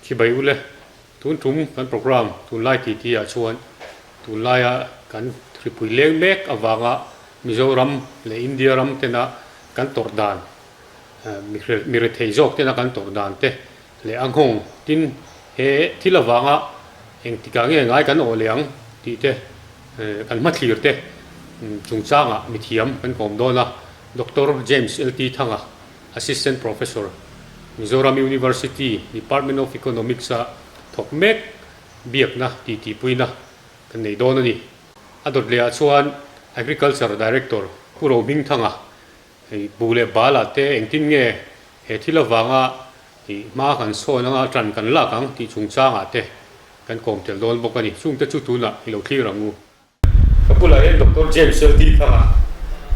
Khi bai ule, tun tum kan program tunlai titi ah chuan tunlai a kan hripui leng mek avanga Mizoram leh India ram tena kan tawrh dan, mi rethei zawk tena kan tawrh dan te, Leh a nghawng, tin, he thil avanga eng tikah nge ngai kan awhliang tih te, kan hmathlir te chungchangah mithiam kan kawm dawn a, Doctor James LT Thanga, Assistant Professor, Mizoram University, Department of Economics-a thawk mek biakna tih tihpuina kan nei dawn a ni. A dawt lehah chuan Agriculture Director Pu Rohming Thanga, Hei bu leh bal ah te engtin nge he thil avanga ih hma kan sawn anga tan kan lak ang tih chungchang ah te kan kawm tel dawn bawk a ni. Chungte chu tunah i lo thlir ang u. Ka bulah hian Doctor James Laltee Thang a,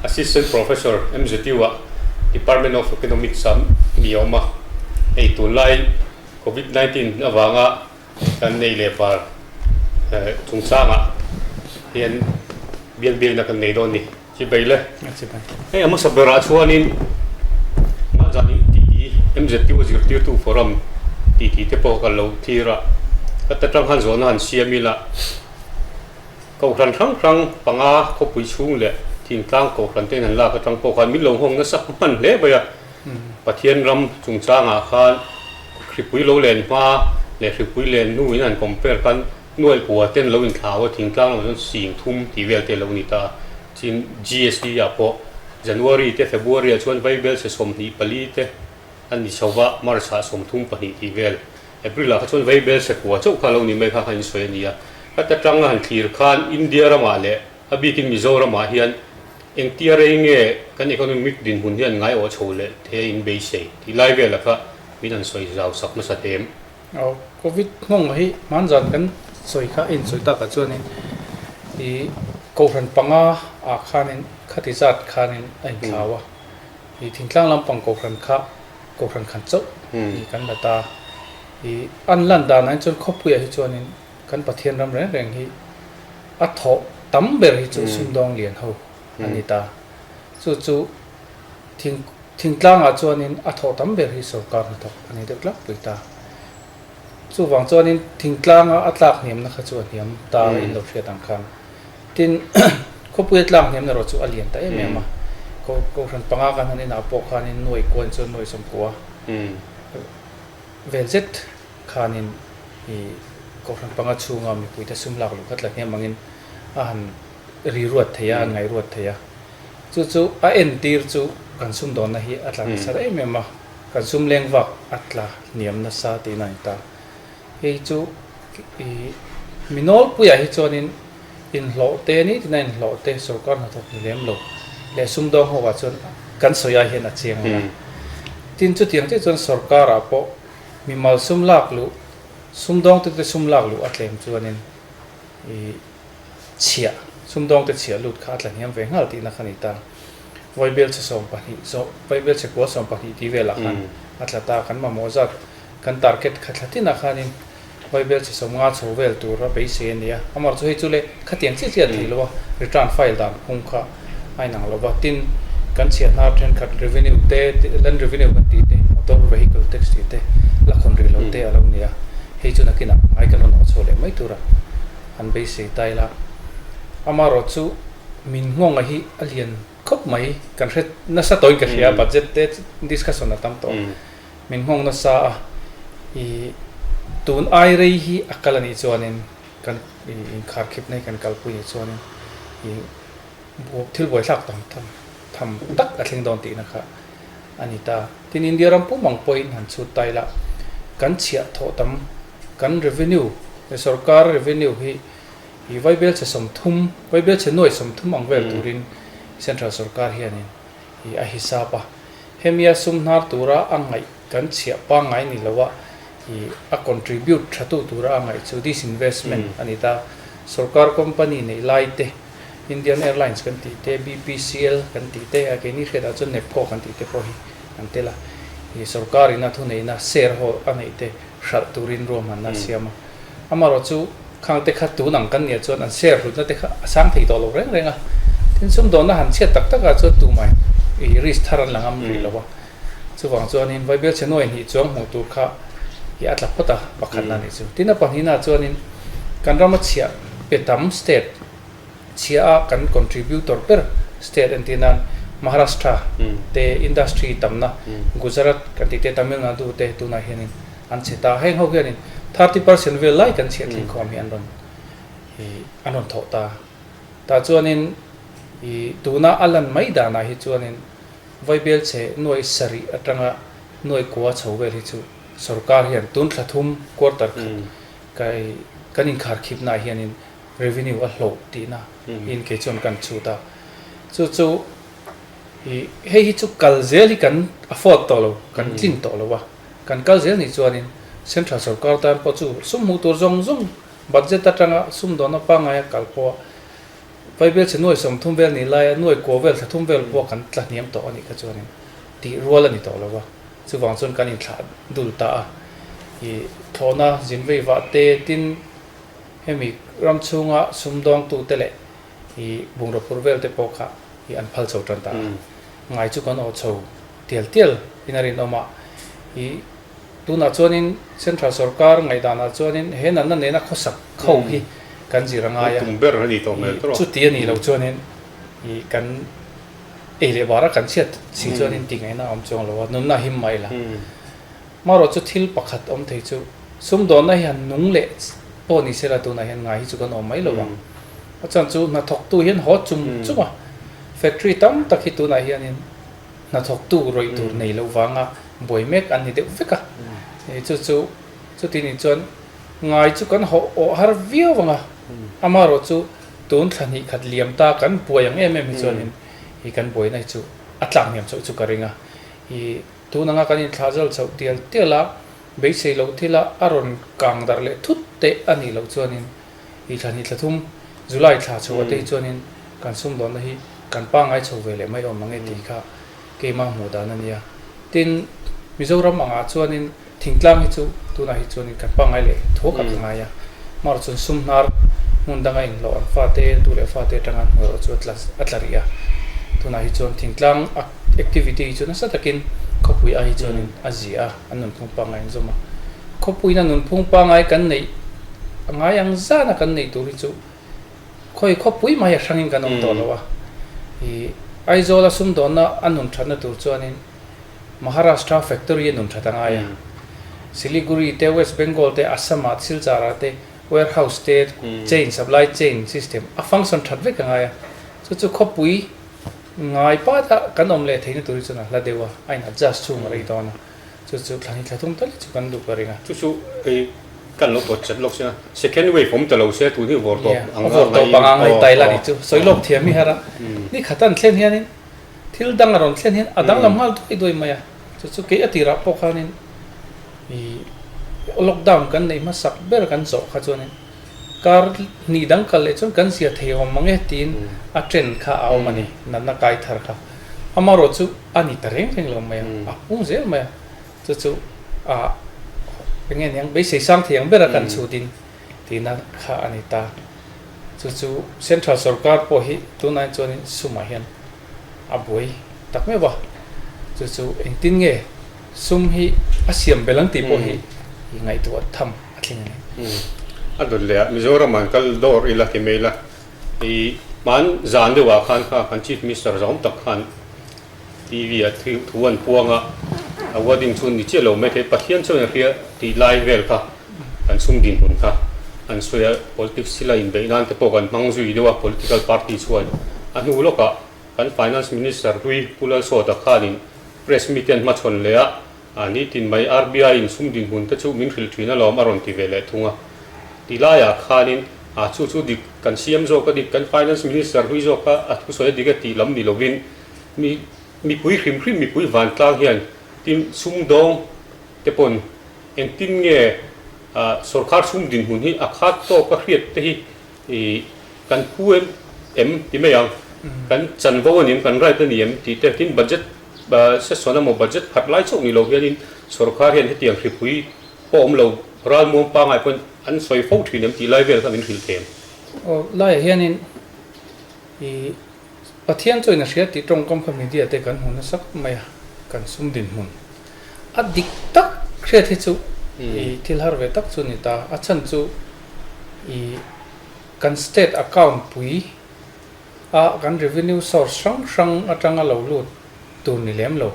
Assistant Professor, MZU ah, Department of Economics ah a ni awm a. Hei tunlai Covid nineteen avanga kan nei leh bar chungchang ah hian biakbiakna kan nei dawn a ni. Chi bei le. A chi bai. Hei a hmasa berah chuanin Mahzanin titi MZTU zirtirtu forum titi te pawh ka lo thlir a, ka ta tanghan zawhna han siam ila Kohhran hrang hrang panga khawpui chhung leh thingtlang Kohhran te'n han lak atang pawh khan min lo nghawng nasa hman hle mai a. Pathian ram chungchangah khan hripui lo len hma leh hripui len hnuin han compare khan Nuaih pua ten lo inthlahau a, thingtlang lamah chuan sing thum tih vel te lo ni ta a, chin GST ah pawh January te February ah chuan vaibel se sawmhnih pali te an ni chho va, March ah sawm thum pahnih tih vel, April ah kha chuan vaibel se pua chauh kha lo ni mai kha kha insawi a ni a, heta tang a han thlir khan India ramah leh a bikin Mizoram ah hian engtia rei nge kan economic dinhmun hian ngai awh chho leh thei a inbeisei tih lai vel ah kha min an sawi zau sak hmasa teh em. Aw covid hmawngah hi hman zan kan sawi kha a insawi takah chuanin i kohhran panga ah khanin khati zat khanin a inthlau a, i thingtlang lampang kohhran kha kohhran khan chauh ni kan la ta. I an lan danah chuan khawpuiah hi chuanin kan Pathian ram reng reng hi a thawh tam ber hi chu sumdawng lian ho. a ni ta. Chu chu thing thingtlangah chuanin a thawh tam ber hi sorkar hnathawk a ni deuh tlak pui ta. Chuvang chuanin thingtlanga a tlak hniamna kha chu a hniam ta in lo hriat ang khan. Tin khawpuia tlak hniamna erawh chu a lian ta em em a. Ko kohhran panga kan han inah pawh khanin nuaih kuain chuan nuaih sawmpua vel zet khanin ih kohhran panga chhunga mipuite sum lak luh kha tla hniam angin. a han ri ruat thei a, an ngai ruat thei a. Chu chu a en tir chu kan sumdawnna hi a tla nasat em em a, kan sum leng vak a tla hniam nasa tiin a ni ta. Hei chu i mi nawlpuiah hi chuanin inhlawh te ni tina inhlawh te sorkar hnathawk ni lem lo leh sumdawng hova chuan kan sawiah hian a chiang ania. Tin chutiang chiah chuan sorkarah pawh mi malsum lak luh, sumdawngte te sum lak luh a tlem chuanin i chhiah, sumdawngte chhiah lut kha a tlahniam ve nghal tihna kha a ni ta. Vawibial che sawm pahnih zawh, Vawibial che kual sawm pahnih tih velah khan a tla ta. Kan mamawh zat kan target kha thla tinah khanin Vawibial che sawm nga chho vel tura beisei a ni a. Amarawhchu hei chu le khatiang chiah chiah a thei lo a, return file dan phung kha. a inang lo va, tin, kan chhiat hna thenkhat revenue te, land revenue kan tih te, motor vehicle tax tih te, la khawn rih lo te a lo ni a, hei chu nakinah ngai ka rawn awh chhuah leh mai tura an beisei ta ila, amarawt chu min nghawngah hi a lian khawp mai, kan hre nasa tawiin ka hria a, budget te discussion a tam tawh a, min nghawng nasa a, ih, tun ai rei hi a kal a nih chuan in kan inkhar khipna hi kan kalpui ni chuanin ih buai thil buaithlak tam tham tham tak a thleng dawn tihna kha a ni ta tin India ram pum ang pawhin han chhut ta ila kan chhiah thawh tam kan revenue leh sorkara revenue hi ih vaibelchhe sawmthum vaibelchhe nuai sawmthum ang vel turin central sorkar hianin hi a hisap a, hemi a sum hnar tura a ngaih kan chhiah pangngai ni lo a, hi a contribute thatu tura a ngaih chu disinvestment a ni ta, sorkar company neih lai te, Indian Airlines kan tih te, BPCL kan tih te, a keini hriatah chuan Nepco kan tih te pawh hi kan tel a, hi sorkarin a thuneihna share ho a neih te. hralh turin ruahman a siam a, amaherawh chu khangte kha tun ang kan nia chuan an share hlutna te kha a sang thei tawh lo reng reng a, tin sumdawnna han chhiat tak takah chuan tumai i risk thar an la ngam rih lo a, chuvang chuanin vai Bialchhenu a inhnih chuang hmuh tur kha i a tla phawt a pakhatna nih chu, tin a pahnihna ah chuanin kan rama chhiah pe tam state, chhia a kan contributor ber state an ti nan Maharashtra te industry tamna Gujarat kan tih te Tamil Nadu te tunah hianin an chhe ta heng ho hianin thirty percent vel lai kan chhiah thleng khawm hi an rawn i an rawn thawh ta tah chuanin i tuna a lan mai danah hi chuanin vaibel chhe nuai sarih atanga nuai kua chho vel hi chu sawrkar hian tun thlathum quarter khat kan inkhar khipnah hianin Revenue a hlawh tihna in kei chuan kan chhut a, chu chu i hei hi chu kal zel hi kan afford tawh lo, kan tlin tawh lo a, kan kal zel nih chuan in central sawrkar tan pawh chu sum hmuh tur zawng zawng budget atanga sum dawna pangngai a kal pawh Paibel chhe nuai sawm thum vel ni lai a nuai kua vel tha thum vel pawh kan tla hniam tawh a nih kha chuan in tih rual a ni tawh lo a, chuvang chuan kan in thlah dul ta a, i thlawhna zin vei vah te tin, Hemi ram chhunga sumdawngtute leh i bungraw phur velte pawh kha i an phal chho tan ta a, ngai chu kan awh chho tial tial in a rinawm a, i tunah chuanin Central sawrkar ngaihdanah chuanin he natna nena khawsak kho hi kan zir a ngai a, i chuti a nih loh chuanin i kan ei leh bar a kan chhiat si chuanin tih ngaihna a awm chuang lo a, nunna him mai la. Marawh chu thil pakhat awm thei chu, sumdawnna hi han nung leh pawh ni sela tunah hian ngai hi chu kan awm mai lo ang. A chuan chu hnathawktu hian haw chum chum a, factory tam tak hi tunah hianin hnathawktu rawih tur nei lo vanga buai mek an ni deuh vek a, chu chu chuti nih chuan ngai chu kan haw awh har viau ang a, amarawh chu tun thla hnih khat liam ta kan buai ang em em hi chuanin hi kan buaina hi chu a tlak hniam chauh chu ka ring a, i. Tun anga kan inthlah zal chauh tial tial a, beisei lo thila a rawn kang darh leh thut teh a nih loh chuanin i thla ni thla thum July thla chho a te hi chuanin kan sumdawnna hi kan pangngai chho ve leh mai awm ange tih kha keima hmuh dan a nia. Tin, Mizoram angah chuanin thingtlang hi chu tunah hi chuanin kan pangngai leh tho khat a ngai a, mahrachuan sumhnar hmun danga inhlawh an fate, tu leh fate atanga an huairua chu a tla rih a, tunah hi chuan thingtlang a Activity hi chu nasa takin khawpui ahi chuanin a zia a, an nunphung pangngai an zawm a. Khawpuina nunphung pangngai kan neih ngai ang zana kan neih tur hi chu khawi khawpui mahia hrangin kan awm tawh loh a. I Aizawla sumdawnna a nun thatna tur chuanin Maharashtra factory a nun that a ngai a. Siliguri te, West Bengal te, Assam ah Silchara te warehouse te chain, supply chain system a function that vek a ngai a. Chu chu khawpui Ngai pat a, kan awm leh theihna tur hi chuan a hla deuh a, a in adjust chhung a rei dawn a, chu chu thla ni thla thum ta leh chu kan duk a ring a. Chu chu hei kan lo pawt chat lawk sina, second wave awm ta lo se a, tun hi vawr tawp ang a ngai in a ngai tai la ni chu sawi lawk thiam hi har a, ni khat a an thlen hian in thil dang a rawn thlen hian a danglam nghal duai duai mai a, chu chu kei a ti rah pawh khan in ih lockdown kan neih hmasak ber kan zawh kha chuan in kar hnih dang kal leh chuan kan zia thei awm ang e tiin a trend kha a awm a ni natna kai thar kha amarawh chu a ni ta reng reng lo mai a a hung zel mai a chu chu a eng nge niang beisei sang thei ang ber a kan chhut in tihna kha a ni ta chu chu central sawrkar pawh hi tunain chuan in sumah hian a buai tak meuh a chu chu engtin nge sum hi a siam belh ang tih pawh hi i ngaihtuah a tham. a thleng em em. A dawt leh a, Mizoram an kal dawr ila ti mai la, i hmaan zan deuh ah khan kha kan Chief Minister zawm tak khan TV ah thu an puang a, a wording chu ni chiah lo mai thei, Pathian chuan a hria tih lai vel kha kan sum dinhmun kha an sawi a, politics sila inbeih nan te pawh kan hmang zui deuh a, political party chuan a hnu lawk ah kan Finance Minister Hlui Pu Lalsawta khan in press meet te an hmachhawn leh a, A ni tin mai RBI in sum dinhmun te chu min hrilh thin alawm a rawn ti ve leh thung a. Ti laiah khanin a chu chu dik kan siam zawk a dik kan Finance Minister hlui zawk kha a thusawi a dik a tih lam ni lovin mi mipui hrim hrim mipui vantlang hian tin sumdawng te pawn engtin nge a sorkar sum dinhmun hi a khat tawk a hriat te hi I kan phu em? Em ti mai ang. Kan chan vo anem, kan right a ni em? Tih te. Tin budget session emaw budget phat lai chauh ni lo hianin sorkar hian hetiang hripui pawh awm lo, ral muang pangai pawhin an sawi fo thin em tih lai vel kha min hrilh thei ang. Aw, laiah hianin i Pathian chu ina hria tih tawngkam kha media te kan hmu nasa khawp mai a, kan sum dinhmun a dik tak hriat hi chu i thil har ve tak chu a ni ta, a chhan chu i kan state account pui a kan revenue source hrang hrang atanga lo lut tur ni lem lo,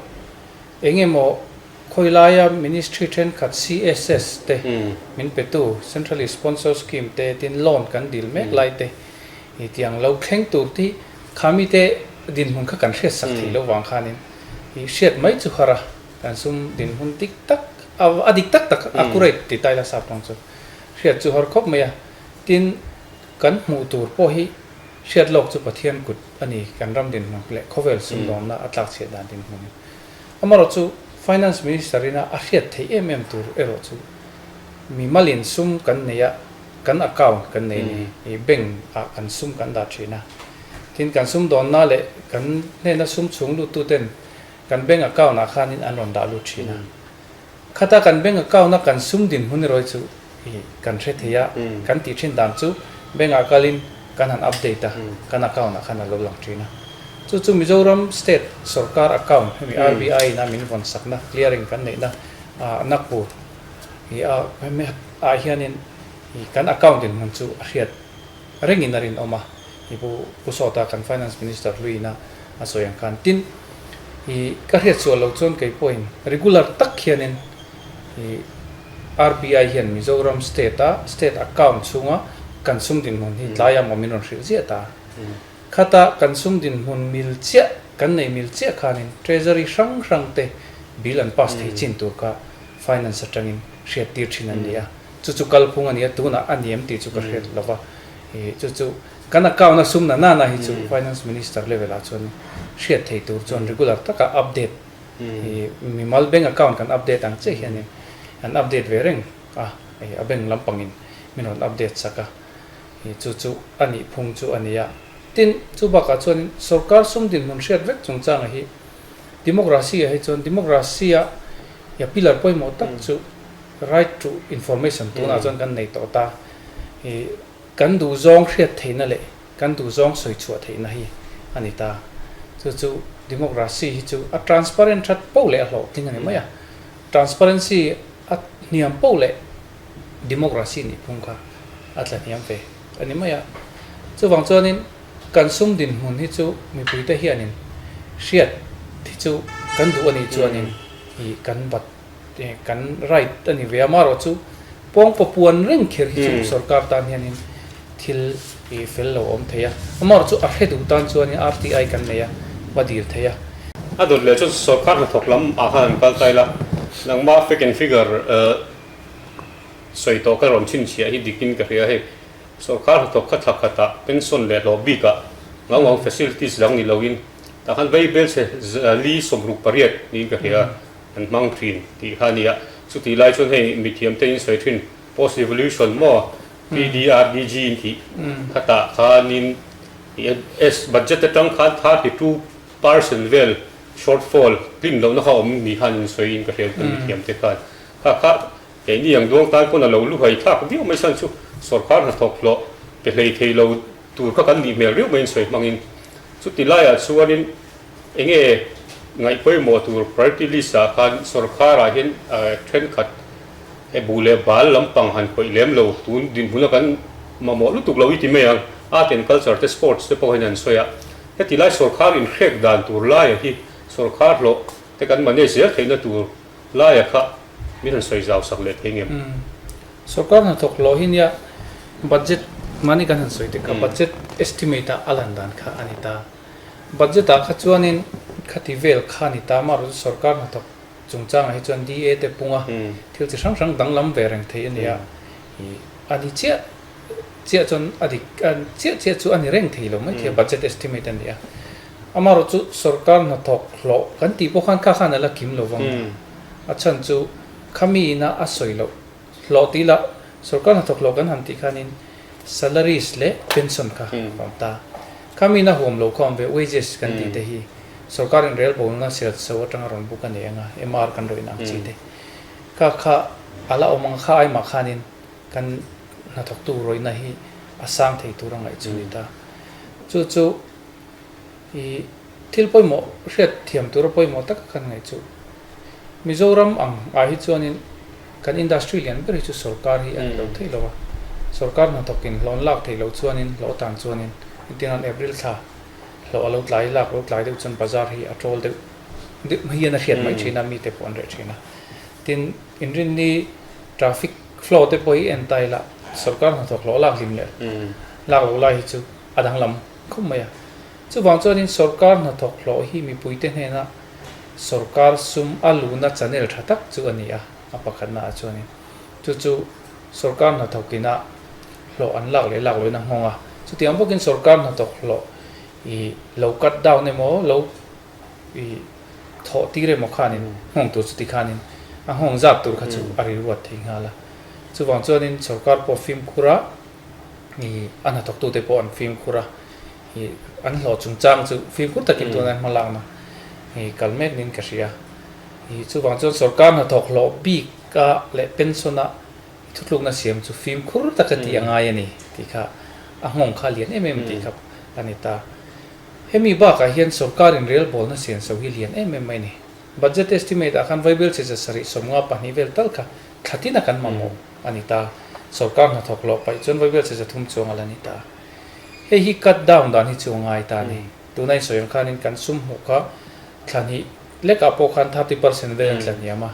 eng emaw khawi laia ministry thenkhat CSS te min petu, centrally sponsored scheme te, tin loan kan dil mek lai te, Ni tiang lo thleng tur tih kha mite dinhmun kha kan hriat sak theilo vang khanin i hriat mai chu khara kan sum dinhmun dik tak a dik tak tak accurate ti taila sap tawng chu hriat chu har khawp mai a tin kan hmuh tur pawh hi hriat lawk chu Pathian kut a ni kan ram dinhmun leh khawvel sumdawmna a tlak chhiat dan dinhmun hi amarawh chu Finance Minister ina a hriat theih em em tur erawh chu mi mal in sum kan nei a Kan account kan nei ni hi bank ah kan sum kan dah thin a, tin kan sum dawnna leh kan hnena sum chhung lut tu ten kan bank account ah khan in an rawn dah lut thin a, khata kan bank account a kan sum din hmun erawhi chu i kan hre thei a, kan tih thin dan chu bank ah kal in kan han update a, kan account ah khan a lo lang thin a, chu chu Mizoram state sawrkar account hemi RBI in a min vawn sakna clearing kan neihna ah Nagpur. ih a ah hian in ih kan account in hman chu a hriat reng in a rin awm a ih pu pu sawta kan finance minister hlui na a sawi ang khan tin ih ka hriat sual lo chuan kei pawh in regular tak hian in ih RBI hian mizoram state a state account chhung a kan sum din hmun hi tlai a maw min rawn hrilh ziah ta khat a kan sum din hmun mil chiah kan nei mil chiah khan in treasury hrang hrang te bill an pass thei chin tur kha finance atangin hriat tir thin an ni a, chu chu kal phung a ni a, tunah a ni em tih chu ka hriat lo va, ih chu chu kan account a sum na na na hi chu finance minister level ah chuan hriat theih tur chuan regular taka update ih mimal bank account kan update ang chiah hianin an update ve reng a, a bank lampangin min rawn update sak a, ih chu chu a nih phung chu a ni a, tin chu bakah chuanin sawrkar sum dinhmun hriat vek chungchanga hi. Democracy-a hi chuan, Democracy-a ya pillar pawimawh tak chu Right to Information tunah chuan kan nei tawh ta. I kan duhzawng hriat theihna leh kan duhzawng sawi chhuah theihna hi a ni ta. Chu chu Democracy hi chu a transparent that pauh leh a hlawhtling a ni mai a. Transparency a hniam pauh leh Democracy nihphung kha a tlahniam ve. A ni mai a. Chuvang chuanin kan sum dinhmun hi chu mipuite hianin hriat thi chu kan duh a nih chuanin i kan bat kan right a ni ve a. Amarawh chu pawngpaw puan reng kher hi chu sorkar tan hianin thil i fel lo awm thei a. Amarawh chu a hre duh tan chuanin RTI kan nei a va dir thei a. A dawt leh chu sorkar hnathawk lam ah khan an kal ta ila nangma fake and figure. Sawi tawh ka rawn chhinchhiah hi dikin ka hria hei, sorkar hnathawk khat hla khat ah pension leh hlawh bik ah ngau ngau facilities dang ni lo in tah khan vei bel che li sawm ruk pariat niin ka hria an hmang thin tih kha a ni a, chutih lai chuan hei mithiam te in sawi thin post revolution maw PDRDG tih kha tah khan in as budget atang khan thar hi two percent vel short fall hlim lohna kha awm ni khan in sawi in ka hria an mithiam te khan kha kha Kei ni ang duang tan pawn a lo lu hai thlak viau mai san chu sorkar hnathawk hlawh pe hlei thei lo tur kha kan nih hmel riau mai in sawi hmang in chuti lai ah chuan in enge ngaih pawimawh tur party list ah khan sorkar ah hian thenkhat he bu leh bal lampang han pawih lem lo tun dinhmun a kan mamawh lutuk lo i ti mai ang art and culture te sports te pawh hian an sawi a heti lai sorkar in hrek dan tur lai ah hi sorkar hlawh te kan manage zel theih na tur Laia kha min han sawi zau sak leh theng em? Sorkar hnathawk law hi nia budget mahni kan han sawi tek a, budget estimate ah a lan dan kha a ni ta. Budget ah kha chuanin khati vel kha a ni ta, mahro chu sorkar hnathawk chungchangah hi chuan DA te punga thil chi hrang hrang danglam ve reng thei a ni a. A ni chiah chiah chuan a dik, chiah chiah chu a ni reng thei lo maithei a, budget estimate a ni a. Amarawh chu sorkar hnathawk hlawh kan tih pawh khan kha khan ala kim lo vang a, a chhan chu khami ina a sawi loh hlawh tih ila sorkar hnathawk hlawh kan han tih khanin salaries leh pension kha awm ta, khami ina huam lo kha awm ve wages kan tih te hi sorkar in rel bo anga sel chho atanga rawn buk a ni anga MR kan rawn inang chi te kha kha ala awm ang kha ai mah khanin kan hnathawk tu rawihna hi a sang thei tur a ngaihchhuah a ni ta chu chu i thil pawimawh hriat thiam tura pawimawh taka kan ngaih chu Mizoram ang ah hi chuanin kan industry lian ber hi chu sorkar hi a ni lo theih lo a sorkar hna thawk in hlawn lak theih loh chuan in hlawh atan chuan in engtin an April thla hlawh a lo tlai lak lo tlai deuh chuan bazar hi a ṭawl deuh deuh mai hian a hriat mai ṭhin a mi te pawh an reh ṭhin a tin in rin ni traffic flow te pawh hi en ta ila sorkar hna thawk hlawh lak hlim leh lak lo lai hi chu a danglam khawp mai a, chuvang chuanin sorkar hnathawk hlawh hi mipuite hnena sorkar sum a luna chanel tha tak chu a ni a, a pakhatnaah chuanin chu chu sorkar hnathawk ina hlawh an lak leh lak lohin a nghawng a, chutiang bawkin sorkar hnathawk hlawh i lo cut down emaw lo i thawh tir emaw khanin nghawng tur chuti khanin a nghawng zat tur kha chu a rilruat thei nghal a, chuvang chuanin sorkar pawh fimkhur a i a hnathawktu te pawh an fimkhur a, i an hlawh chungchang chu fimkhur takin tuna an hmalakna i kal mek niin ka hria. I chuvang chuan sorkar hnathawk hlawh bika leh pension a thutlukna siam chu fimkhur taka tih a ngai a ni tih kha a nghawng kha a lian em em tih kha a ni ta. Hemi bakah hian sorkarin relbawlna sian so hi lian em em mai ni. Budget estimate ah khan vaibelchhe zasarih sawmnga pahnih vel tal kha thlatin a kan mamawh. a ni ta a, sorkar hnathawk lawh paih chuan vawivial chhe zathum chuang a la ni ta a. Hei hi cut down dan hi chu a ngai ta a ni. Tuna insawi ang khanin kan sum hmuh kha thla hnih lekah pawh khan thirty percent vel an tla hniam a,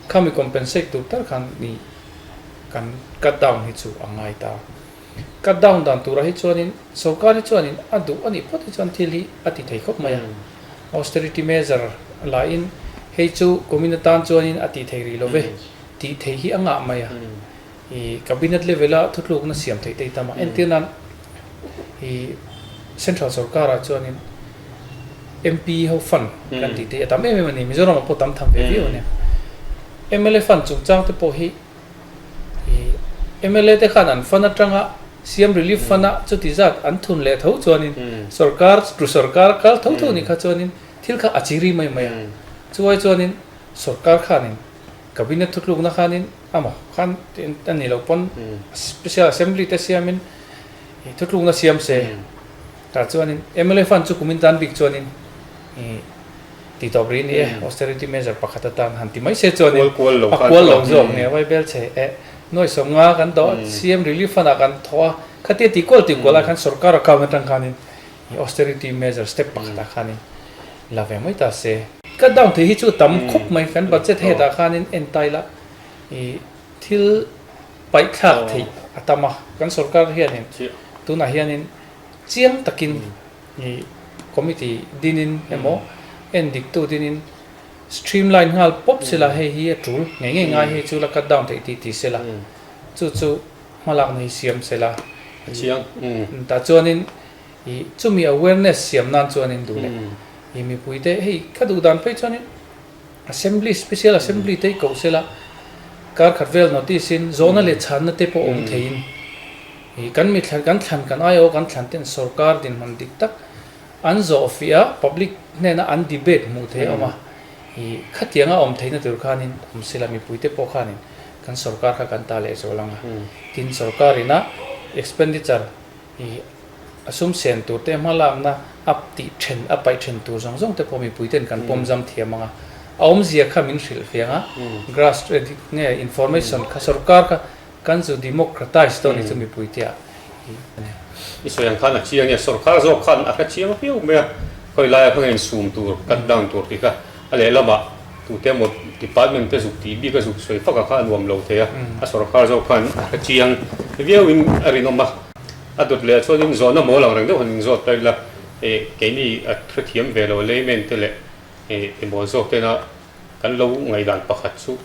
khami compensate tur tar khan ni kan cut down hi chu a ngai ta a. Cut down dan turah hi chuanin sorkar hi chuanin a duh a nih phawt hi chuan thil hi a ti thei khawp mai a, austerity measure lahin hei chu kum ina tan chuanin a tih thei rih lo ve. Tih theih hi a ngah mai a, i cabinet level a thutlukna siam theih te hi tam a, entir nan i central sawrkar ah chuanin MP ho fund kan tih te hi a tam em em a ni, Mizoram ah pawh tam tham ve viau a nia, mla fund chungchang te pawh hi i mla te khan an fund atanga siam relief fund a chuti zat an thun leh tho chuanin sawrkar ru sawrkar kal tho tho nih kha chuanin thil kha a chi ri mai mai a, chuai chuanin sawrkar khanin Cabinet thutlukna khanin amaw khan a nih loh pawn Special Assembly te siamin ih thutlukna siam se tah chuanin mla fund chu kumin tan bik chuanin ih tih tawp rih a ni e, austerity measure pakhat atan han ti mai se chuanin a kual lo zawk nia vai bel che e. Nuai sawnga kan doh a, CM Relief Fund ah kan thawh a, khatia tih kual tih kual ah khan sorkar account atang khanin. He austerity measure step pakhat ah khanin la ve mai ta se. Cut down thei hi chu tam khawp mai kan budget het ah khanin entail a i thil paih thlak theih a tam a kan sorkar hianin tunah hianin chiang takin i committee dinin emaw en dik tu dinin streamline nghal pawp sela hei hi a tul ngei ngei ngai hei chu la cut down theih tih ti sela chu chu hmalak na hi siam sela tah chuanin. i chumi awareness siam nan chuan in duh leh i mipui te hei kha duh dan phei chuan in assembly special assembly te i koh sela kar khat vel notice in zawhna leh chhan na te pawh awm thei in i kan mitthlan kan thlan kan ai awk an thlan ten sorkar din hman dik tak an zawh fih a public hnen a an debate hmuh theih a awm a i khatiang a awm thei na tur khan in awm sela mipui te pawh khan in kan sorkar kha kan ta leh zawh lang a tin sorkar in a expenditure I a sum sen tur te hma lakna a tih then a paih then tur zawng zawng te pawh mipui ten kan pawm zam thiam ang a, a awm zia kha min hrilh fiang a, grass nge information kha sorkar kha kan zu democratize dawn ni chu mipui te ah a ni. I sawi ang khan a chiang nia sorkar zawk khan a hre chiang viau mai a, khawilai a hmanga insum tur cut down tur tih kha. A lehlamah, tute emaw department te zuk tih bik a zuk sawi fakah kha a nuam lo thei a, a sorkar zawk khan a hrechiang viauin a rinawm a. A dawt lehah chuan inzawhna mawl angreng deuh han inzawt ta ila, keini a hrethiam ve lo layman te leh emaw zawk tena kan lo ngaihdan pakhat chu,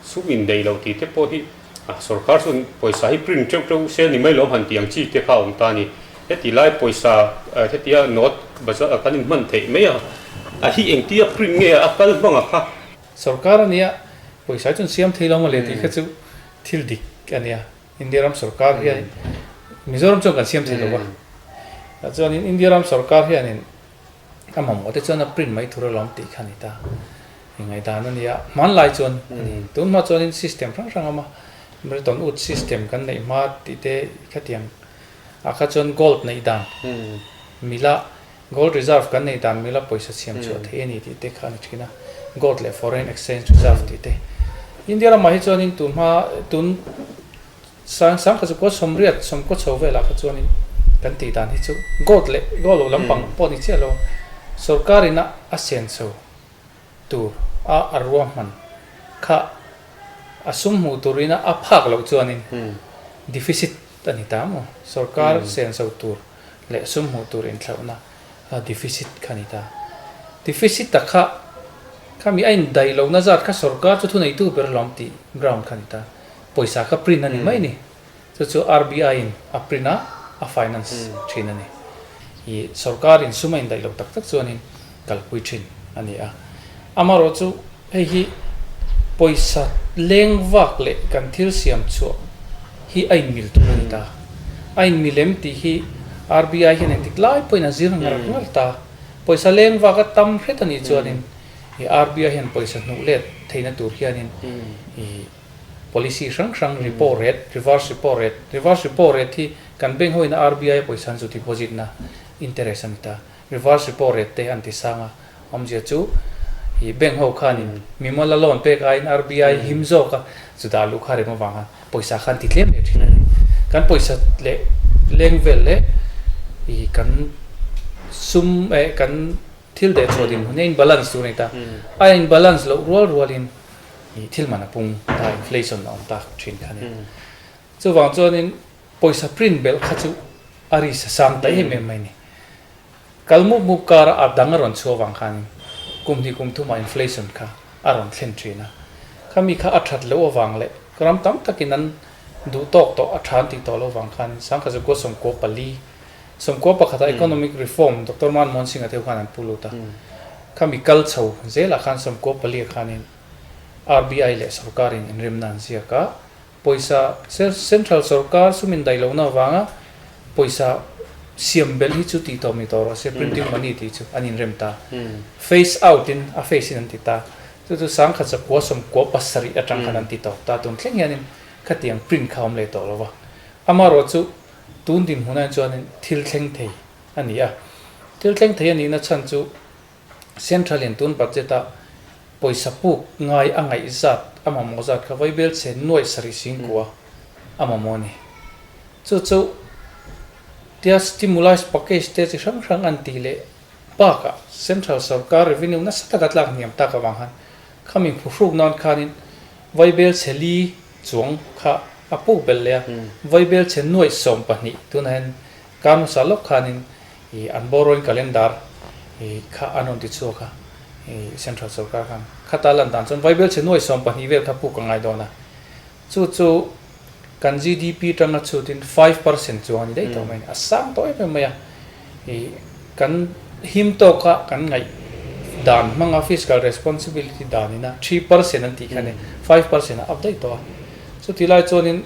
Sum inneih loh tih te pawh hi a sorkar chuan pawisa hi print teuh teuh sel ni mai lo han tih ang chi te kha a awm ta a ni. Heti lai pawisa hetia note bazar kan inhman theih mai a, a hi engti a print nge a kal hmang a kha. Sorkar a nia pawisa hi chuan siam thei lo mawle tih kha chu thil dik a nia. India ram sorkar hian Mizoram chuan kan siam thei lo a. Tichuan India ram sorkar hian in. Ka mamawh te chuan a print mai tur alawm tih kha a ni ta. I ngaidan a nia. Hmanlai chuan a ni. Tunhma chuanin system hrang hrang a awm a. Milton Wood system kan neih hma tih te i khatiang. A kha chuan gold neih dan mila, gold reserve kan neih dan mila pawisa chhiam chhuah theih a ni tih te kha a ni thin a. Gold leh foreign exchange reserve tih te. India lamah hi chuanin tunhma tun Sang sang kha chu pawh sawmriat sawmkaw chho velah kha chuanin kan tih dan hi chu gold leh gold loh lampang pawh ni chiah lo sawrkarin a a siam chho tur a a ruahman kha a sum hmuh turin a a phak loh chuanin deficit a ni ta maw sawrkar siam chho tur leh sum hmuh tur inthlauhna a deficit kha ni ta deficit a kha khami a indaih lohna zat kha sawrkar chu thuneitu ber hlawm tih ground kha ni ta Pawisa ka print a ni mai ni. Chu chu RBI in a print a, a finance thin a ni. I sorkar in sum a indaih loh tak tak chuanin kalpui thin a ni a. Amarawh chu hei hi pawisa leng vak leh kan thil siam chhuah hi a inmil tur a ni ta. A inmil em tih hi RBI hian engtik lai pawhin a zir ngalh ngalh ta. Pawisa leng vak a tam hret a nih chuanin i RBI hian pawisa hnuh let theihna tur hianin i. Policy hrang hrang repo rate, reverse repo rate, reverse repo rate hi kan bank ho ina RBI a pawisa an zu deposit na interest a ni ta, reverse repo rate te an ti sang a, awmzia chu ih bank ho khan in mimal a loan pek aiin RBI him zawk a zu dah luh kha rem avang a pawisa khan ti tlem leh thin a ni, kan pawisa leh leng vel leh ih kan sum eh kan thil deh chhuah dinhmun hi a inbalance tur a ni ta, a inbalance loh rual rual in. i thil man a pung ta inflation a awm ta thin kha nia chuvang chuan in pawisa print belh kha chu a ri sa sang ta em em mai ni kal mup mup kar a a dang a rawn chhuak vang khan kum hnih kum thum ah inflation kha a rawn thlen thin a khami kha a that loh avang leh ram tam tak in an duh tawk tawh a than tih tawh lo vang khan in sangkhaza kua sawmkua pali Sawmkua pakhat a economic reform Doctor Manmohan Singh a deuh khan an pu lut a, khami kal chho zel ah khan sawmkua pali a khan in RBI leh sawrkar in inremna an ziak a, pawisa central sawrkar sum in daih lohna vang a pawisa siam belh hi chu tih tawh mi tawh rawh se printing money tih chu an inrem ta, phase out in a phase in an ti ta, chu chu sangkhat chapua sawmkua pasarih atang khan an ti tawk ta, tun thleng hian in khatiang print kha awm leh tawh lo va, amarawh chu. Tun dinhmuna in chuanin thil thleng thei a ni a. Thil thleng thei a nihna chhan chu Central-in tun budget-a pawisa puk ngai a ngaihzat a mamawh zat kha vaibel chhe nuaih sarih sing kuah a mamawh a ni. Chu chu tia stimulise package te chi hrang hrang an tih leh bakah Central sawrkar revenue nasa taka tlak hniam tak avang han khami hmu hruk nan khanin vaibel chhe li Chuang kha a puk belh leh a, vaibel chhe nuaih sawm pahnih tunahin kar hmasa lawk khanin ih an borrowing calendar ih kha an rawn ti chhuak a, ih central sorkar khan khata lan dan chuan vaibel chhe nuaih sawm pahnih vel kha puk ka ngai dawn a, chu chu kan GDP tanga chhutin five percent chuang a ni daih tawh mai a ni, a sang tawh em em mai a. Kan him tawk a, kan ngaih dan hmang a, fiscal responsibility dan in a, three percent an tih kha nen, five percent a up daih tawh a. Chuti lai chuan in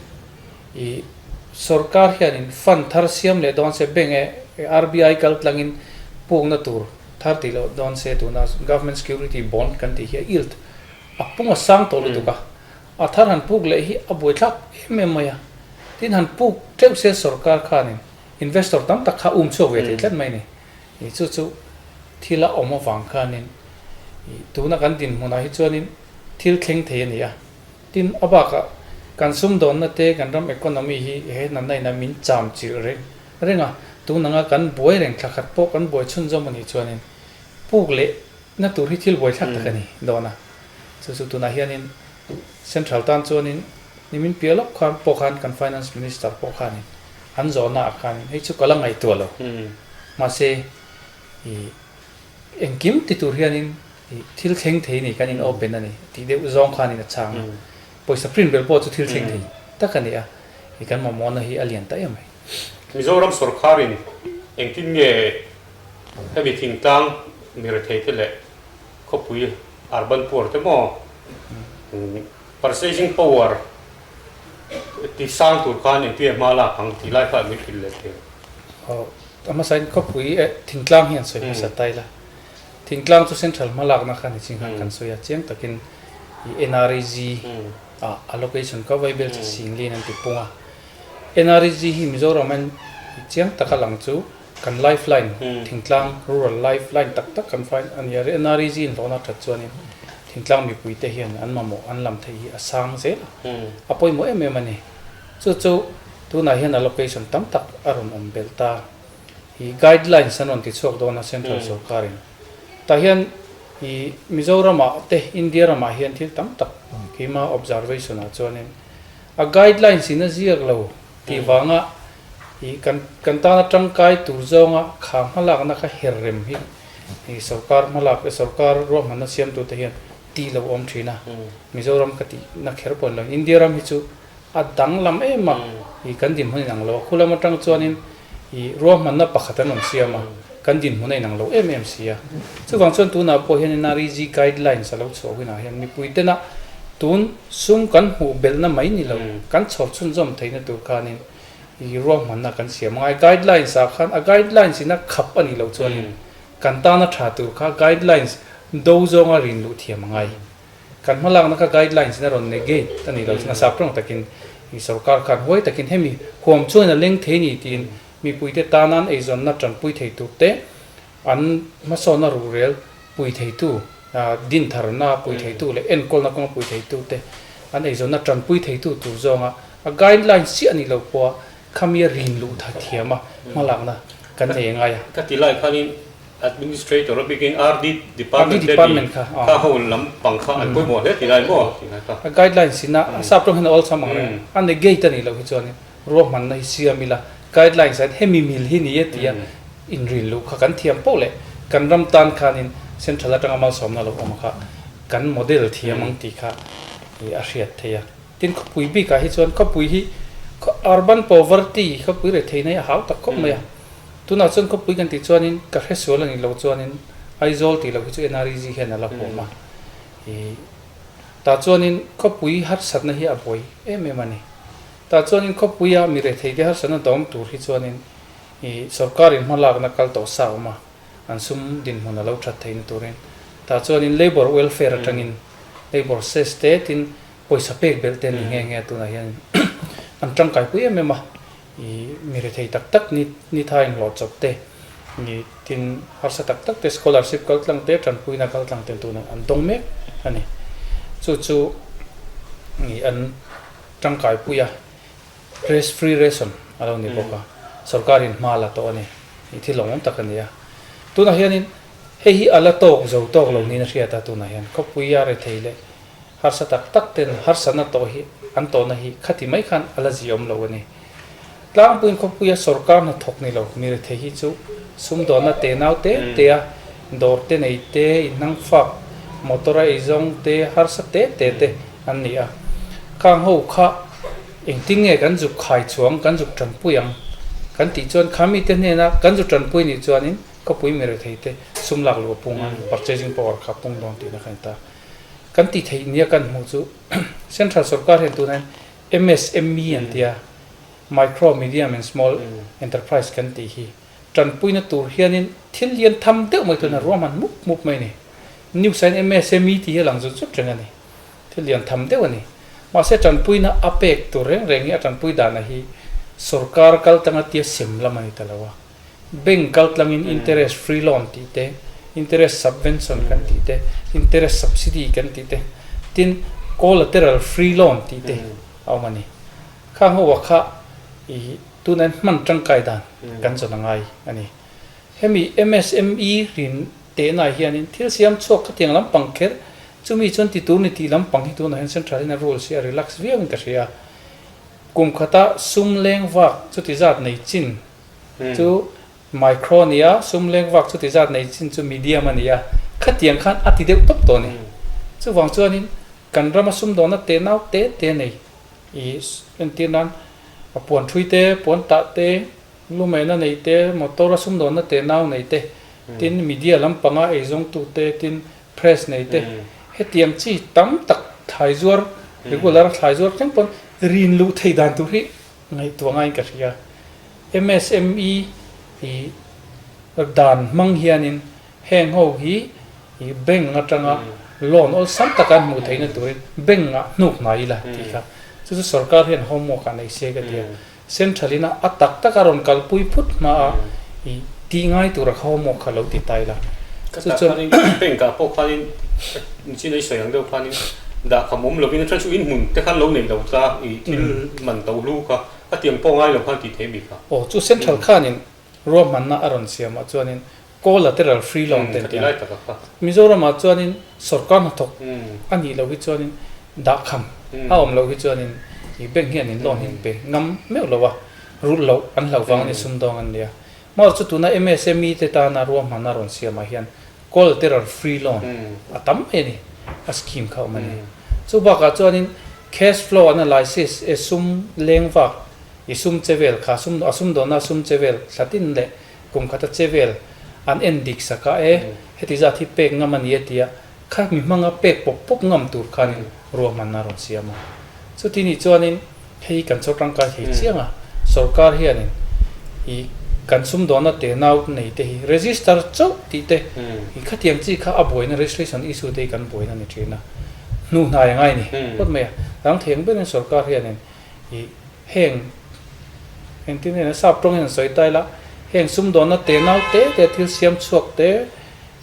sorkar hian in fund thar siam leh dawn se bank e, RBI kal tlang in pukna tur thar tih loh dawn se tuna government security bond kan tih hi a yield a pung a sang tawh lutuk a, a thar han puk leh hi a buai thlak em em mai a. Tin han puk tleuh se sorkar khan in. Investor tam tak kha um chhuak ve thei tlat mai ni. Ih chu chu thil a awm avang khanin ih tuna kan dinhmunah hi chuanin thil thleng thei a ni a. Tin a bakah kan sumdawnna te kan ram economy hi he natna inah min cham chilh reng reng a. Tun anga kan buai reng thla khat pawh kan buai chhun zawm a nih chuanin puk lehna tur hi thil buai thlak tak a ni dawn a. Chu chu tunah hianin Central tan chuanin nimin piah lawk khan pawh khan kan Finance Minister pawh khanin, An zawhnaah khan hei chu ka la ngaihtuah lo. Mahse, ih, engkim ti tur hianin, ih, thil thleng thei nei kan inawpen a ni tih deuh zawng khanin a chhang a. Pawisa print ber pawh chu thil thleng thei tak a ni a. Ih, kan mamawna hi a lian ta em e. Mizoram sawrkharin engtin nge hemi thingtang mi retheite leh khawpui arban puar te maw? Parsei zing power. Ti sang tur khan engtin a hma lak ang tih lai kha min hrilh leh thei. Aw, a hmasain khawpui e, thingtlang hi an sawi hmasa ta ila, thingtlang chu central hma lakna khan niching khan kan sawi a, chiang takin i NREG a allocation kha vaibel che singliin an ti pung a, NREG hi Mizoram a chiang taka lang chu. Kan life line, Thingtlang Rural Life Line tak tak kan find a ni a, NRE zin hlawhna that chuanin Thingtlang mipui te hian an mamawh an lam theih hi a sang zel a, a pawimawh em em a ni. Chu chu tunah hian allocation tam tak a rawn awm belh ta. Hi guidelines an rawn ti chhuak dawn a Central Sawrkarin. Tah hian i Mizorama te India ramah hian thil tam tak keima observation ah chuanin a guidelines in a ziak lo Tih vanga ih kan kan tan atang kai tur zawnga khah hmalakna kha her rem hi ih sorkar hmalak sorkar ruahmanna siamtute hian ti lo awm thin a, Mizoram ka tih na kher pawn lo. India ram hi chu a danglam em a, ih kan dinhmun in ang lo a, khulam atang chuanin ih ruahmanna pakhat an rawn siam a. Kan dinhmun a inang lo em em si a. Chuvang chuan tunah pawh hian NREG guidelines a lo chhuah hunah hian mipuitena tun sum kan hmuh belhna mai ni lo, kan chhawr chhunzawm theihna tur khanin i ruahmanna kan siam a ngai. Guidelines ah khan a guidelines ina khap a nih loh chuanin kan tana tha tur kha guidelines do zawnga rin luh thiam a ngai. Kan hmalakna kha guidelines ina rawn negate a nih lo chuan a sap tawng takin i sorkar khan huai takin hemi huam chuan a leng thei a ni tiin Mipuite tanan eizawnna tanpui thei tur te, an hmasawna ruhrel pui theitu, din tharna pui theitu leh enkawlna kawng pui theitu te an eizawnna tanpui theitu tur zawnga a guideline siah nih loh pawha khamia rin luh tha thiam a hma lakna kan nei a ngai a. Ka ti lai khanin Administrator a bikin RD Department te ni kha ho lam pang kha an pawimawh hle ti lai maw? Ti lai ka. A guidelines ina a sub tawnghin a awlsam ang reng a, a negate a nih loh hi chuanin Ruahmanna hi siam ila, guidelines ah hian hemi mil hi ni e tia inrin luh kha kan thiam poh leh kan ram tan khanin central atanga malsawmna lo awm kha kan model thiam ang tih kha a hriat theih a. Tin khawpui bikah hi chuan khawpui hi urban poverty khawpui reh theihna hi a hau tak khawp mai a, tunah chuan khawpui kan tih chuanin ka hre sual a nih loh chuanin Aizawl tih loh hi chu NREG hian a la huam a, tah chuanin khawpui harsatna hi a buai em em a ni. Tah chuanin khawpuia mi rehtheite harsan a dawng tur hi chuanin i sorkarin hmalakna kal tawh sa awm a, an sum dinhmun a lo that theihna turin tah chuanin labour welfare atangin labour cess te tin pawisa pek belh te ni nge nge tunah hianin an tangkai pui em em a, i mi rethei tak tak ni ni tha inhlawh chawp te ni tin harsa tak tak te scholarship kaltlang te tanpuina kaltlang te tunah an dawng mek a ni. Chu chu i an. Tangkaipuia Race Free Ration a lo ni bawk a, sorkar in hma la tawh a ni. Hei thil awmawm tak a ni a. Tunah hianin hei hi a la tawk zo tawk lo niin a hriat a, tunah hian khawpuia rethei leh harsa tak tak ten harsatna tawh hi an tawhna hi khati mai khan a la ziawm lo a ni. Tlangpuiin khawpuia sorkar hnathawk ni lo ni rethei hi chu sumdawnna te nau te te a, dawr te nei te, inhang fak, motor a ei zawng te, harsa te te te an ni a. Khang ho kha engtin nge kan zuk khai chuang, kan zuk tanpui ang kan tih chuan kha mite hnena kan zu tanpui nih chuanin khawpui mi rethei te sum lak lua pung a, purchasing power kha pung dawn tihna kha a ni ta. Kan tih theih nia kan hmuh chu central sorkar hian tunahin, MSME an ti a, Micro, Medium and Small Enterprise kan tih hi tanpuina tur hianin thil lian tham deuh mai tuna ruah hman mup mup mai a ni. News-ah hian MSME tih hi a lang zut zut reng a ni. Thil lian tham deuh a ni. Mahse tanpuina a pek tur reng reng hi a tanpui danah hi sorkar kal tanga tia siam lam a ni ta lo a. Bank kaltlangin interest free loan tih te, interest subvention kan tih te, interest subsidy kan tih te, tin collateral free loan tih te a awm a ni. Kha ang ho ah kha tuna hian hman tangkai dan kan zawn a ngai a ni. Hemi MSME rin tehna ah hianin thil siam chhuak khatiang lampang kher chumi chuan ti tur ni tih lampang hi tunah hian central in a rules hi a relax viau in ka hria. Kum khata sum leng vak chuti zat nei chin, Chu micro ni a, sum lek vak chuti zat nei chin chu medium a ni a, khatiang khan a ti deuh tawp tawh a ni. Chuvang chuanin kan rama sum dawna te nau te te nei i entir nan a puan thui te, puan tah te, lu mehna nei te, motor a sum dawna te nau nei te, tin media lampanga ei zawng tu te, tin press nei te, hetiang chi tam tak thlai zuar, regular a thlai zuar tlem pawn rin luh thei dan tur hi ngaihtuahngaiin ka hria. Msme ih dan hmang hianin heng ho hi ih bank atanga loan awlsam taka an hmuh theihna turin bank ah hnuk hna ila tih kha chu chu sorkar hian homework ah nei se ka ti a. Central in a tak tak a rawn kalpui phut hma a ih. Tih ngai tur a kho maw kha lo ti tai la. Khata khanin bank ah pawh khanin chin a i sawi ang deuh khanin dahkham awm lovin a then chu inhmun te khan lo nei lo ta i thil man to hlu kha a tiang pawh ngai lo khan tih theih a mi kha. Aw chu central khanin ruahmanna a rawn siam ah chuanin collateral free loan te an ti a. Mizoram ah chuanin sorkar hnathawk a nih lo hi chuanin dahkham a awm lo hi chuanin i bank hianin loan hi an pe ngam meuh lo a, rulh loh an hlauh vang a ni sum dawng an nia. Maw chu tuna msme te tana ruahman a rawn siamah hian collateral free loan a tam mai a ni a scheme kha awm a ni. Chu bakah chuanin cash flow analysis e sum leng vak i sum che vel kha sum a sum dawnah sum che vel thlatin leh kum khata che vel an en dik sak a e heti zat hi pek ngam a ni e tia kha mi hmanga pek pawp pawp ngam tur khanin ruahman a rawn siam a. Chutini chuanin. Hei kan chho tangkai thei chianga sorkar hianin i kan sumdawnna te nau nei te hi register chauh tih te i khatiang chi kha a buaina registration issue te hi kan buaina ni thin a hnu hnai anga i ni phawt mai a rangtheng berin sorkar hianin i heng engtin nge sap tawngin an sawi ta ila heng sumdawnna te nau te te thil siam chhuak te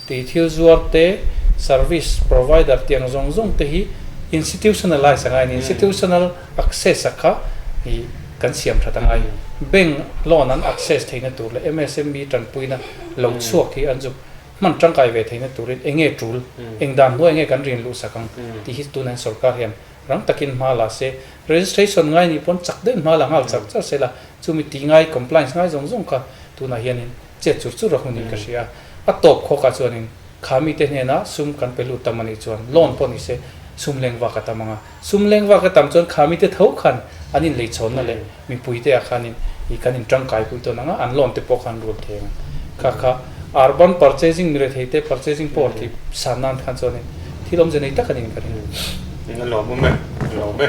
Tei thil zuar te, service provider tiang zawng zawng te hi institutionalize a ngain institutional access a kha ih kan siam that a ngai. Bank loan an access theihna tur leh MSME tanpuina lo chhuak hi an zuk hman tangkai ve theihna turin eng nge tul, eng dan hnuai nge kan rin luhsak ang tih hi tunain sorkar hian rang takin hma la se. Registration ngai ni pawn chak daih hma la nghal char char se la chumi ti ngai compliance ngai zawng zawng kha tunah hianin. Chet chur chur a hun in ka hria a. A tawp khawk ah chuan in, Kha mite hnen ah sum kan pe lut tam a nih chuan, loan pawh ni se, sum leng vak a tam ang a. Sum leng vak a tam chuan kha mite tho khan an in lei chhawn na leh mipui te ah khan in i kan in tangkai pui tawn ang a, an loan te pawh khan rul thei ang a. Kha kha ar ban purchasing mi rethei te purchasing pawh ti san nan khan chuan in thil awmze nei tak a ni in ka ring a. Eng a lawm awm e? A lawm e.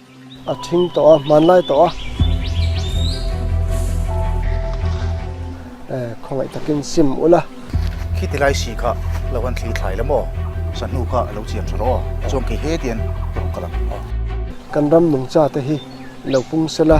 A thing tawh a, hmanlai tawh a. Eh, khawngaih takin sim ulh a. Khi tilai si kha lo han thlir thlai lam aw. Sahnu kha a lo chian tha lo aw. Chuan kei he tian ka rawn kal ang aw. Kan ram nungcha te hi i lo pung se la.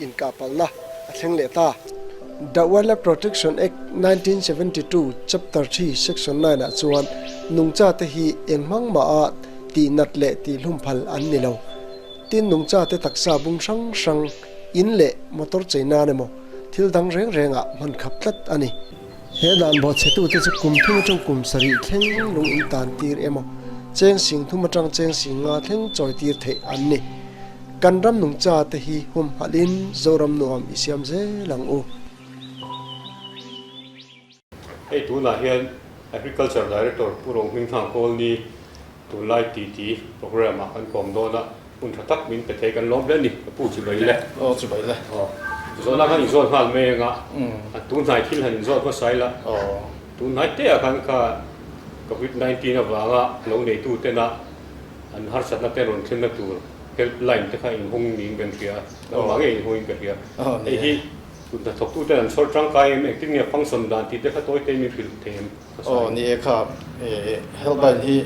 Inkah palhna a thleng leh ta. The Wildlife Protection Act nineteen seventy two, Chapter three, Section nine ah chuan nungcha te hi eng hmang mah a tih nat leh tih hlum phal an ni lo. Tin, nungcha te taksa bung hrang hrang, in leh motor chei nan emaw thil dang reng rengah hman khap tlat a ni. He dan bawhchhetu te chu kum thum atang kum sarih thleng lung in tan tir emaw, cheng sing thum atang cheng sing nga thleng chawi tir theih an ni. Kan ram nung cha te hi hum halh in Zoram nuam i siam zel ang u. Hei tunah hian Agriculture Director Pu Rawngmingthlang Kawlni Tunlai titi programme ah kan pawm dawn a, hun tha tak min pe thei kan lawm hle a ni, ka pu chu bai le. Aw chu bai le. Aw zawhna khan in zawn nghal mai ang a, a tu hnai thil han in zawn hmasa ila, tu hnai te ah khan kha covid nineteen avang a lo nei tu ten a an harsat na te an rawn thlen na tur help line te kha in hawng niin kan hria a, nang mah ngei in hawng in ka hria a, hei hi thut hnathawk tu ten an chhawl tangkai em, engtin nge function dan tih te kha tawi te in min hrilh thei em? Aw ni e kha e helpline hi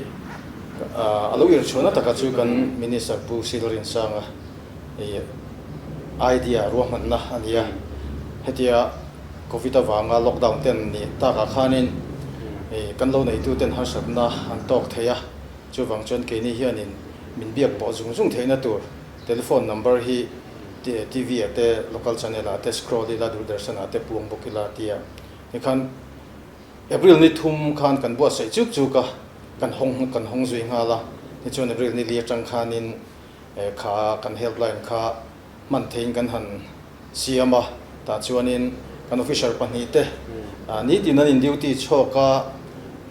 a lo ir chhuahna taka chu kan Minister Pu Silrinchanga i idea ruahmanna a nia. Hetia Covid avanga lockdown ten nih takah khanin kan lo neituten harsatna an tawk thei a, chuvang chuan keini hianin min biak pawh zung zung theihna tur telephone number hi TV ah te, local channel ah te scroll ila, Doordarshan ah te puang bawk ila tia. Tikhan. April ni thum khan kan buatsaih chuk chuk a, kan hawng kan hawng zui nghal a, nichuan April ni li atang khanin kha kan helpline kha hman theiin kan han siam a, tah chuanin kan officer pahnih te nitin an in duty chhawk a,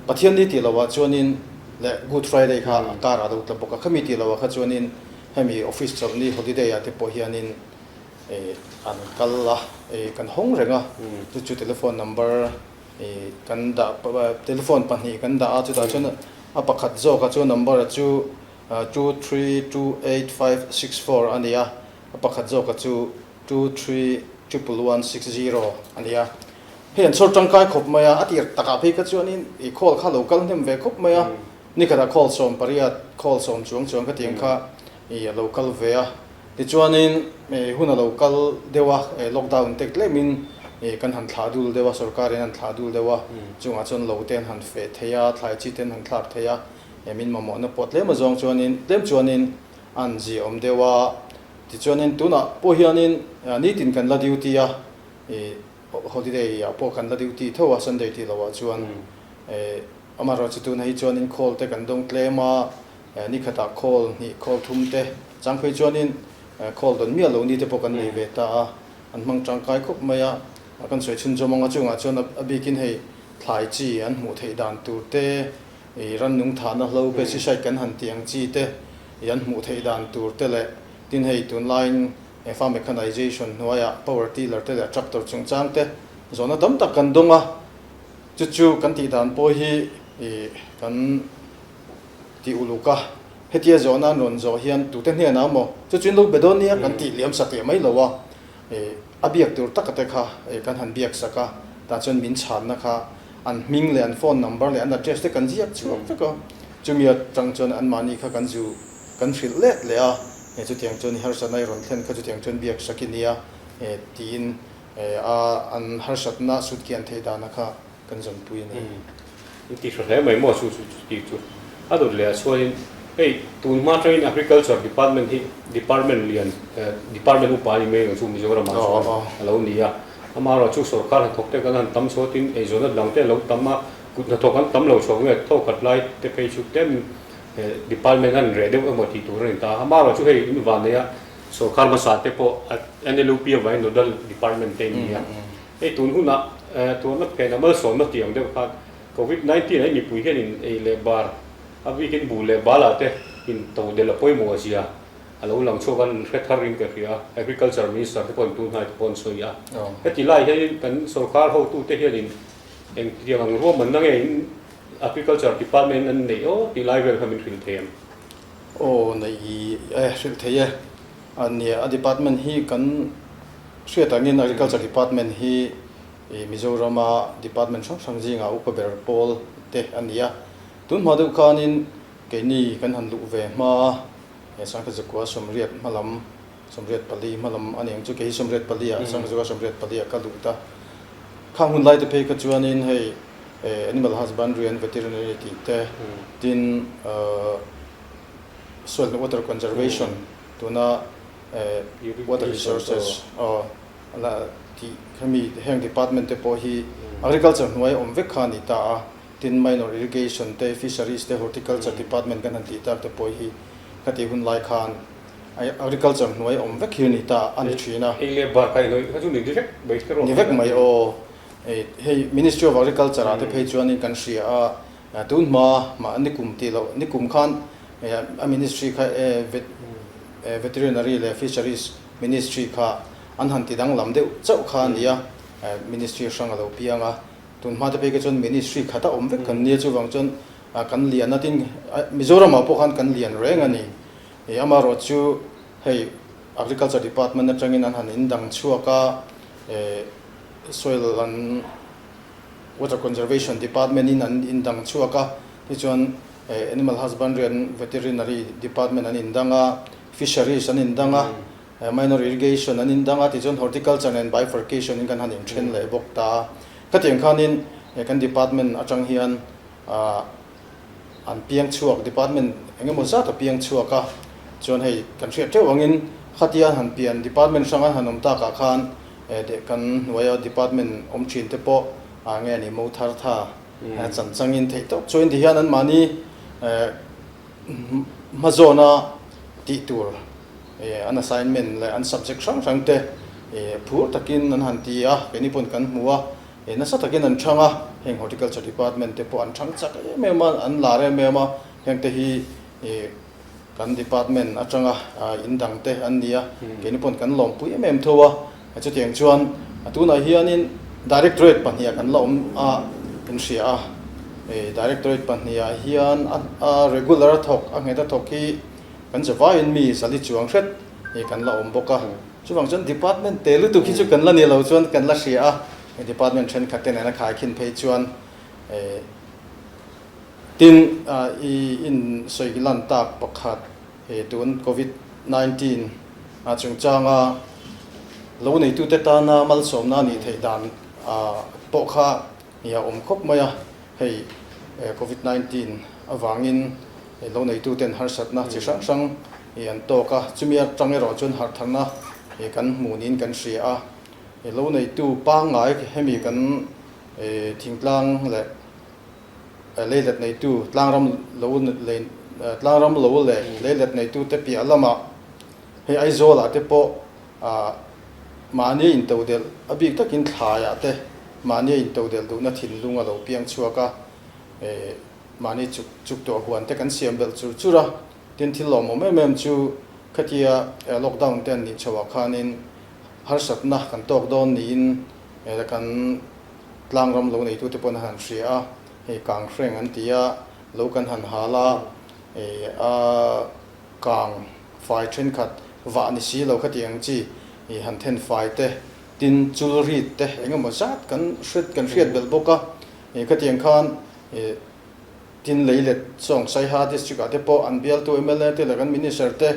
Pathian ni tih lohah chuanin leh Good Friday kha a kar a lo tla bawk a, khami tih lohah kha chuanin hemi office chawlh ni holiday ah te pawh hianin, an kal a, kan hawng reng a, chu chu telephone number kan dah telephone pahnih kan dah a, chutah chuan a pakhat zawk a chu number chu two three two eight five six four a ni a, a pakhat zawk chu two three triple one six zero a ni a, hei an chhawr tangkai khawp mai a, a tir takah phei kha chuanin ih call kha a lo kal hnem ve khawp mai a, ni khatah call sawm pariat call sawm chuang chuang ka tih ang kha ih a lo kal ve a, Tichuanin, hun a lo kal deuh a, lockdown te tlemin kan han thlah dul deuh a, sorkar in a han thlah dul deuh a, chungah chuan lo te an han feh thei a, thlai chi te an han thlak thei a, min mamawhna pawh tlem azawng chuanin, tlem chuanin a han ziaawm deuh a, tichuanin tunah pawh hianin nitin kan la duty a, holiday ah pawh kan la duty theuh a, Sunday tih loh ah chuan, amaherawhchu tunah hi chuanin khawl te kan dawng tlem a, Ni khatah khawl hnih, khawl thum te, chang phei chuanin khawl dawn miah lo ni te pawh kan nei ve ta a, an hmang tangkai khawp mai a. Kan sawi chhunzawm anga chungah chuan a bikin hei thlai chi an hmuh theih dan tur te, rannung thahna hlo, pesticide kan han tih ang chi te an hmuh theih dan tur te leh tin hei tunlaiin farm mechanisation hnuaiah power tiller te leh tractor chungchang te zawhna tam tak kan dawng a, chu chu kan tih dan pawh hi kan ti uluk a, hetia zawh nan rawn zawh hian tute hnenah a maw chu chin luk be dawn nia kan tih liam sak leh mai lo a, a biak tur taka te kha kan han biak sak a, tah chuan min chhanna kha an hming leh an phone number leh an address te kan ziak chiah vek a, chumi atang chuan an mahni kha kan zu kan hrilh let leh a, chutiang chuan i harsat nai rawn thlen kha chutiang chuan biak sak i nia tiin a an harsatna sut kian theih dana kha. kan zawnpui a ni. Kan tih hre hle mai maw chu chu tih chu a dawt leh a sual in hei tun hma tang in agriculture department hi department lian department upa a ni mai ang chu Mizoram ah chuan a lo ni a ama erawh chu sorkar hnathawk te kan han tam chhuat in eizawl na dang te a lo tam a kut hnathawk an tam lo chhuak nge tho khat lai te phei chu tlem in he department a han reh deuh emaw tih tur a rawn ta a ama erawh chu hei in vanei a sorkar hmasa te pawh NLUP a vai nodal department te an ni a. Hei tun hunah tuarna phen a malsawmna tih ang deuh khan Covid nineteen ai mipui hian in ei leh bar a bikin bu leh bal ah te in to del a pawimawh a zia a lo lang chhuak a ni hre thar in ka hria a Agriculture Minister te pawhin tunhnai te pawhin a sawi a. Heti lai hianin kan sorkar hotu te hian in eng tiang ang ruam manna nge in Agriculture Department in an neih aw tih lai vel kha min hrilh thei em? Aw neih e hrilh thei e, nia a Department hi kan. Hriat angin Agriculture Department hi Mizorama Department hrang hrang zinga upa ber pawl te a ni a, tunhma deuh khanin keini kan han luh ve hma a, he Sangkhazakuaa sawmriat hma lam, sawmriat pali hma lam ani ang chu kei hi sawmriat pali a, Sangkhazakuaa sawmriat pali a ka luh ta. Khang hun lai te phei kha chuanin hei Animal Husbandry and Veterinary tih te, tin Soil and Water Conservation tuna, Water Resources hemi heng department te pawh hi agriculture hnuai awm vek kha a ni ta a, tin minor irrigation te, fisheries te, horticulture department kan han tih tak te pawh hi khati hun lai khan agriculture hnuai awm vek hi a ni ta a ni thin a. Eng leh bar kha i hnawih kha chu ni ni vek mai te rawh. Ni vek mai aw. Hei Ministry of Agriculture-ah te phei chuan kan hria a, Tun hma mah nikum tih loh nikum khan a ministry kha Veterinary leh Fisheries Ministry kha an han ti danglam deuh chauh kha a ni a, ministry hrang a lo piang a. Tun hma te phei ka chuan ministry khat a awm vek kan nia chuvang chuan kan lian a tin Mizoram ah pawh khan kan lian reng a ni. Amarawh chu hei Agriculture Department atangin an han indang chhuak a, soil an. Water Conservation Department in an indang chhuak a, hei chuan Animal Husbandry and Veterinary Department an indang a, Fisheries an indang a, Minor Irrigation an indang a, tichuan Horticulture nen Bifurcation in kan han inthen leh bawk ta. Khatiang khanin kan Department atang hian. Ah an piang chhuak, department eng emaw zat a piang chhuak a, chuan hei kan hriat teuh angin khatia han pian department hrang a han awm takah khan deh kan hnuai a, department awm thin te pawh ah nge ni mo thar tha a chan changin theih tawk chuai ti hian anmahni hma zawn a tih tur an assignment leh an subject hrang hrangte phur takin an han ti a, keini pawn kan hmu a. he nasa takin an chhang a, heng Horticulture Department te pawh an chhang chak em em a, an lar em em a, hengte hi kan Department atanga in dang te an ni a, keini pawn kan lawmpui em em tho a, chutiang chuan a tunah hianin Directorate pahnih a kan la awm a in hria a, Directorate pahnih ah hian a regular a thawk a nghet a thawk hi kan zavaiin mi zali chuang hret kan la awm bawk a. Chuvang chuan department te lutuk hi chu kan la nih loh chuan kan la hria a, hei department thenkhat te nena khai khin phei chuan tin i insawi lan tak pakhat he tun covid nineteen a chungchanga lo neitute tana malsawmna a nih theih dan pawh kha Nih a awm khawp mai a, hei Covid nineteen avangin ih lo neitu ten harsatna chi hrang hrang ih an tawk a, chumi atang erawh chuan harhtharna ih kan hmuh niin kan hria a, ih lo neitu pangngai hemi kan ih thingtlang leh eh leilet neitu tlangram lo lei tlangram lo leh leilet neitute piah lamah hei Aizawla te pawh A mahnia intodelh a bik takin thlaiah te mahnia intodelh duhna thinlung a lo piang chhuak a, mahni chuk chuk tawh huan te kan siam belh chur chur a, tin thil lawmawm em em chu khatia lockdown te an nih chhoh ah khanin harsatna kan tawk dawn niin kan tlang ram lo neitu te pawh an han hria a, hei kang hreng an ti a, lo kan han hal a, a kang. Fai thenkhat vah ni si lo khati ang chi, ih han then fai te, tin chul rit te engemaw zat kan hret kan hriat belh bawk a, ih khati ang khan ih tin lei let sawng saiha district ah te pawh an bialtu mla te leh kan minister te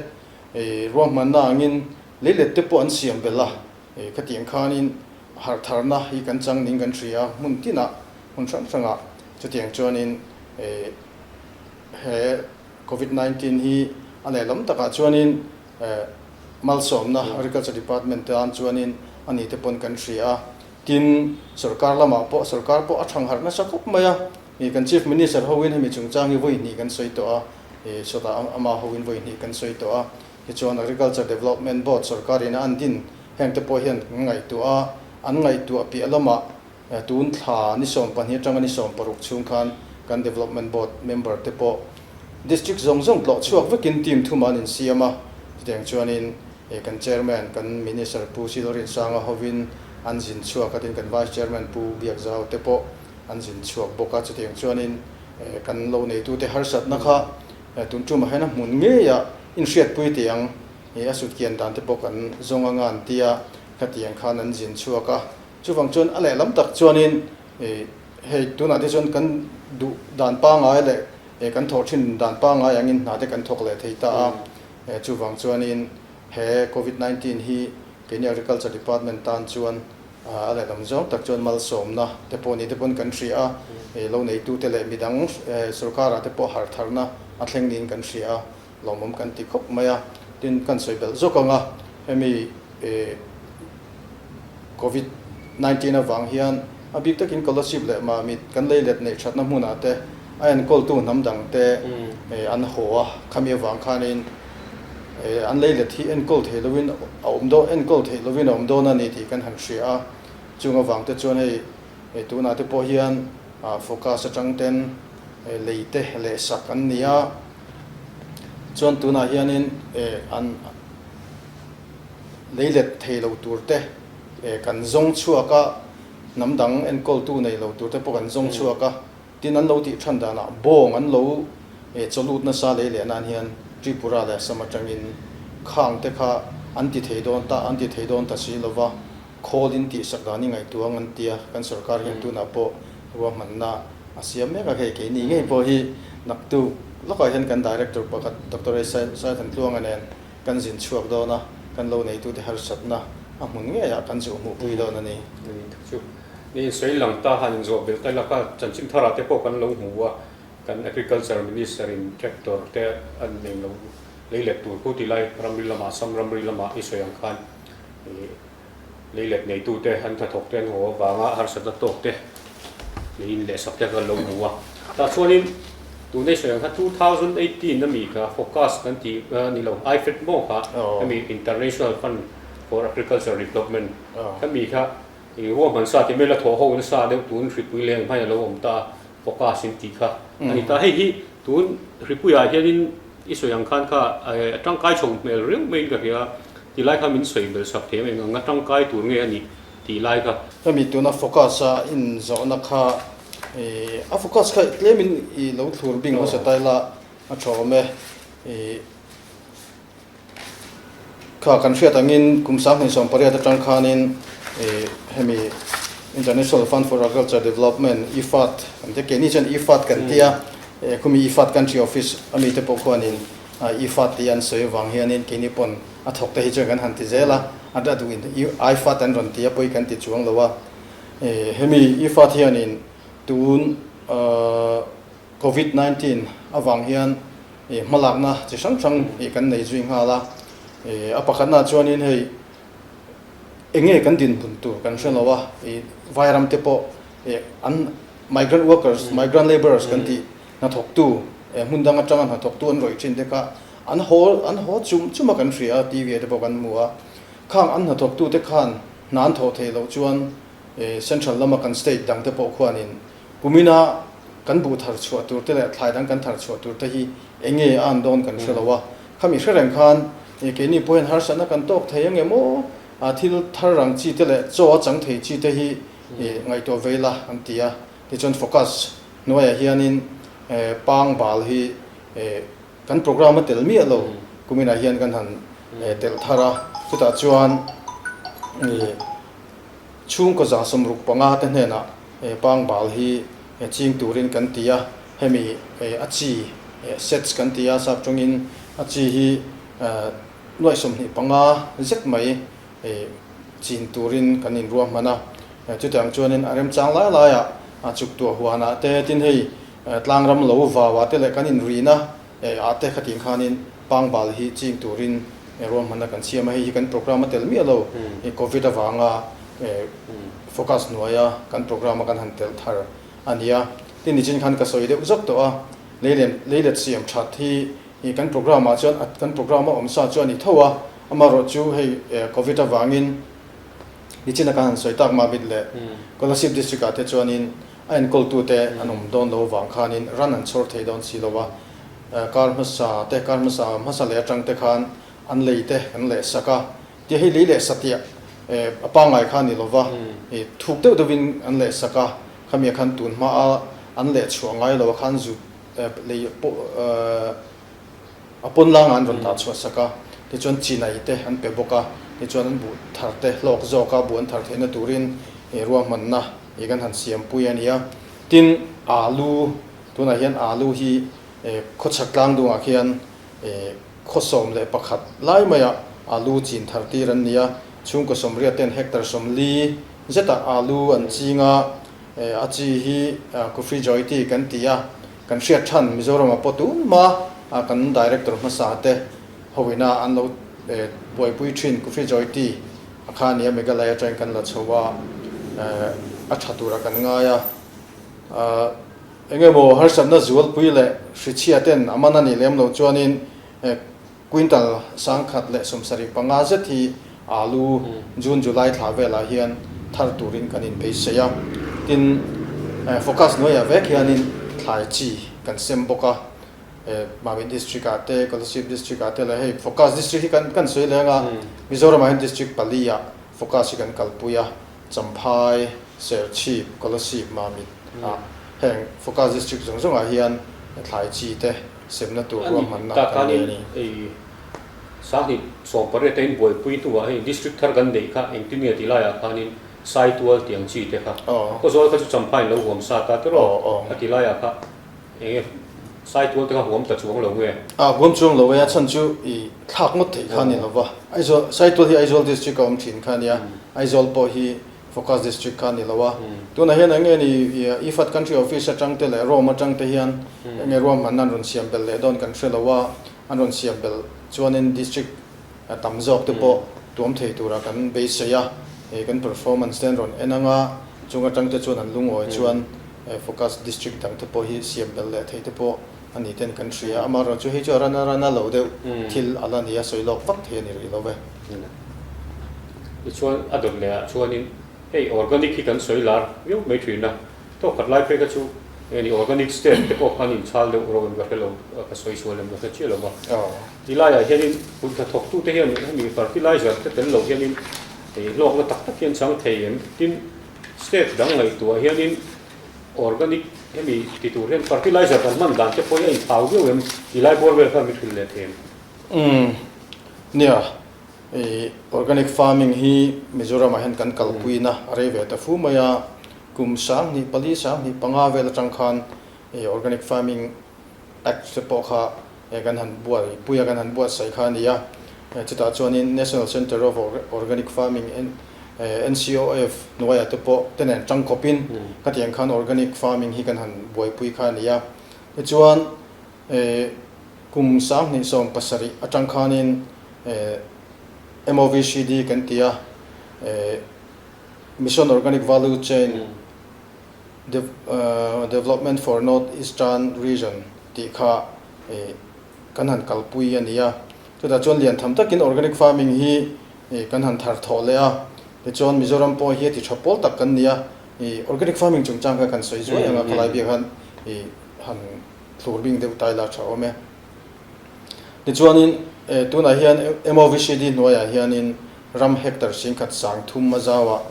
ih ruahmanna angin lei let te pawh an siam belh a, ih khati ang khanin harh tharna hi kan chang ning kan hria hmun tinah hmun hrang hrangah chutiang chuanin ih he Covid nineteen hi a lehlawm takah chuanin malsawmna Agriculture Department te an chuanin a ni te pawn kan hria a, tin sorkar lamah pawh sorkar pawh a thang harh nasa khawp mai a, ih kan Chief Minister hoin hemi chungchang hi vawi hnih kan sawi tawh a, ih sawtah amah hoin vawi hnih kan sawi tawh a, tichuan Agriculture Development Board sorkarin a an din hengte pawh hian kan ngaihtuah a, an ngaihtuah piah lamah. Tun thla ni sawm pahnih atanga ni sawm paruk chhung khan kan Development Board member te pawh District zawng zawng tlawh chhuak vekin team thuma an insiam a, chutiang chuanin kan Chairman kan Minister Pu Silrinsanga hovin an zin chhuak atin kan Vice Chairman Pu Biakzau te pawh an zin chhuak bawk a, chutiang chuanin kan lo neitute harsatna kha tun tumah hian a hmun ngei a inhriatpui teh ang, a sutkian dan te pawh kan zawng anga an tia khatiang khan an zin chhuak a. Chuvang chuan a lehlam tak chuanin hei tunah te chuan kan duh dan pangai leh kan thawh thin dan pangai angin hna te kan thawk leh thei ta a. Chuvang chuanin he Covid nineteen hi keini Agriculture Department tan chuan a lehlam zawng tak chuan malsawmna te pawh ni te pawn kan hria a, lo neitute leh midang sorkar ah te pawh harh tharna a thleng niin kan hria a. Hlauhmawm kan ti khawp mai a, tin kan sawi belh zawk ang a, hemi Covid nineteen avang hian a bik takin Colosseum leh Mamit kan lei let neih thatna hmunah te a enkawl-tu hnam dang te an haw a, khami avang khanin an lei let hi enkawl thei lo in a awm dawn, enkawl theih lo in a awm dawn a ni tih kan han hria a, chung avang te chuan hei tunah te pawh hian forecast atang ten lei te leh sak an ni a. Chuan tunah hianin an lei let thei lo tur te, kan zawng chhuak a, hnam dang enkawltu nei lo tur te pawh kan zawng chhuak a. Tin, an lo tih ṭhan danah bawng an lo chaw lut nasa lei leh nan hian Tripura leh Assam aṭangin khang te kha an ti thei dawn ta, an ti thei dawn ta si lo va. Khawl in tih sak dan i ngaihtuang an tia kan sorkar hian tunah pawh ruahmanna a siam mek a, hei keini ngei pawh hi naktu lawkah hian kan director pakhat Doctor Aisai Thantluanga nen kan zin chhuak dawn a, kan lo neitute harsatna a hmun ngei ah kan zuh hmuh pui dawn a ni. Ni thu chu ni in sawi lang ta han inzuah bil ta laka chanchin thar ah te pawh kan lo hmu a, kan agriculture minister in tractor te an neilo lei let tur pu ti lai ramri lamah sam ramri lamah i sawi ang khan. lei let neitute an hna thawkte an haw avanga harsatna tawkte neiin lehsak te khan lo hmu a tah chuanin tuna i sawi ang kha 2018 ami kha focus kan ti ni lo ifed maw kha ami international fund for agriculture development ami kha i ruam han sa ti mela thaw ho na sa deuh tun hripui leng hmai a lo awm ta focus in ti kha ani ta hei hi Tun hripuiah hianin i sawi ang khan kha a tangkai chhawng hmel riau maiin ka hria, ti lai kha min sawi bel sak thei em eng ang, a tangkai tur nge a nih tih lai kha. Hemi tuna focus a in zawhna kha i a focus kha tlem in i lo thlur bing hmasa tai la a thawm e i. kha kan hriat angin kum sang hnuhsawm pariat atang khanin hemi International Fund for Agriculture Development, IFAD, kan tia, keini chuan IFAD kan tia, khumi IFAD country office ami te pawh khuanin IFAD tih an sawi avang hianin keini pawn a thawk te hi chuan kan han ti zel a, a da duhin IFAD an rawn tia pawhin kan ti chuang lo a, hemi IFAD hianin tun Covid nineteen avang hian ih hmalakna chi hrang hrang ih kan nei zui nghal a, ih a pakhatnaah chuanin hei enge kan dinhmun tur kan hre lo a, ih vairam te pawh ih an migrant workers, migrant labourers kan tih hnathawktu ih hmun dang atanga hnathawktu an rawih thin te kha an haw an haw chum chum a kan hria a, TV ah te pawh kan hmu a, khang an hnathawktu te khan hna an thawh theih loh chuan ih central lama kan state dang te pawh khuanin Kumina kan buh thar chhuah tur te leh thlai dang kan thar chhuah tur te hi eng nge a an dawn kan hre lo a, khami hre reng khan e keini pawhin harsatna kan tawk thei ang em aw a, thil thar rang chi te leh chaw a chang thei chi te hi e ngaihtuah vei la an ti a, tichuan focus hnuaiah hianin e pangbal hi e kan programme a tel miah lo kuminah hian kan han e telh thar a, chutah chuan e. Chhungkaw zahsawm ruk panga te hnenah pangbal hi ching turin kan ti a, hemi a chi, sets, kan ti a, sap tawngin a chi hi nuaih sawmhnih panga zet mai chin turin kan inruahman a, chutiang ang chuanin a remchang lai laiah chuktuah huanah te, tin hei tlangram lo vauah te leh kan inrin a, E, a te khatin khanin pangbal hi ching turin e ruah hmanna kan siam a, hei hi kan programme a tel miah lo, e Covid avanga e focus hnuaia kan programme a kan han tel thar a nia. Tin nichin khan ka sawi deuh zat tawh a, leilen leilet siam that hi e kan programme ah chuan kan programme a awm sa chu a ni tho a, amaherawhchu hei e Covid avangin, Nichina kan han sawi tak Mabit leh Kolasib District ah te chuanin a enkawl-tu te an awm dawn lo vang khanin ran an chhawr thei dawn si lo a, kar hmasa te, kar hmasa hmasa leh atang te khan an lei te kan leh sak a, tia hi lei leh satiah a pangngai kha a ni lo va, thuk deuh deuh in an leh sak a, khami ah khan tun hma a an leh chhuah ngai lo a khan zut lei pawh A pawn langa an rawn dah chhuah sak a, tichuan chi nai te an pe bawk a, tichuan an buh thar te hlawk zawk a, buh an thar theihna turin ih ruahmanna ih kan han siampui a nia. Tin, alu, tunah hian alu hi ih khawchhak tlang dungah khian ih khaw sawm leh pakhat lai maia alu chin thar tir an ni a, chhungkaw sawmriat ten hectare sawmli zeta alu an ching a, a chi hi Kufri Joy tih kan ti a. Kan hriat than Mizoram a paw tum a, kan Director hmasa te ho ina an lo buaipui thin Coffee Joy Tea a kha nia Meghalai atangin kan la chho a, a tha tura kan ngai a, eng emaw harsatna zualpui leh hrichhia ten a man a nih lem loh chuanin Quintal sangkhat leh sawmsarih panga zet hi alu June July thla velah hian thar turin kan inbeisei a, tin forecast hnuaiah vek hianin thlai chi kan sem bawk a, Mawin District ah te, Kolasib District ah te leh hei forecast district hi kan sawi leng a, Mizoram ah hian district pali ah forecast hi kan kalpui a. Champhai, Serchhip, Kolasib, Mamit a heng Focus District zawng zawngah hian thlai chi te semna tur ruahmanna kan nei a ni. Tahkhanin hei Sanghnit sawmpariat a inbuaipui hnua hei District thar kan neih kha engtin nge tih laiah khanin Saitual tih ang chi te kha khawzawl kha chu Champhai-in lo huam sat a tiraw a ti laiah kha. Enge? Saitual te kha huam ta chuang lo nge? A huam chuang lo e, a chhan chu i thlak ngawt theih kha a ni lo va. Aizawl, Saitual hi Aizawl District a awm thin kha a nia, Aizawl pawh hi Focus District kha a ni lo a. Tunah hian enge ni Ifat Country Office atang te leh Rome atang te hian enge ruahmanna an rawn siam belh leh dawn kan hre lo a, an rawn siam belh chuanin District, a tam zawk te pawh tuam thei tura kan beisei a, hei kan performance te an rawn en anga chung atang te chuan an lungawi chuan focus district dang te pawh hi siam bel leh thei te pawh a ni ten kan hria, a amaherawhchu chu hei chu a run a run a lo deuh thil a la nia sawi lawk vak thei a ni rih lo ve. Tichuan a dawt lehah chuanin hei organic hi kan sawi lar viau mai thin a, tawk khat lai peka chu hei a ni organic step te pawh an inchhal deuh reuh em ka hre lo, ka sawi sual em ka hre chiah lo va. Ti laiah hianin hun hnathawktute hian hemi fertilizer te tel loh hianin hei hlawkna tak tak hian chang thei em? Tin, state dang ngaihtuah hianin organic hemi ti tur hian fertilizer kan hman dan te pawh hi a inphau viau em? Ti lai buar vel khan min hrilh leh thei em? Umm, nia, hei organic farming hi Mizoramah hian kan kalpuiin a a rei ve ta fu mai a. Kum sang hnih pali sang hnih panga vel atang khan hei organic farming, Act te pawh kha e kan han buat i puia kan han buat saih kha a ni a, e chutah chuanin National Centre of Organic Farming, NCOF, hnuaia te pawh te nen ṭang khawpin khatiang khan organic farming hi kan han buaipui kha a ni a. Tichuan e kum sanghnih sawm pasarih aṭang khanin e MOVCD kan ti a, e Mission Organic Value Chain Development for North Eastern Region tih kha kan han kalpui a ni a, chutah chuan lian tham takin organic farming hi kan han thar thawh leh a, tichuan Mizoram pawh hi a ti tha pawl tak kan ni a, organic farming chungchang kha kan sawi zuai ang a, khawlai biak han han thlur bing deuh tai la tha awm e. Tichuanin, eh, tunah hian emaw VCD hnuaiah hianin ram hector singkhat sang thumma zau ah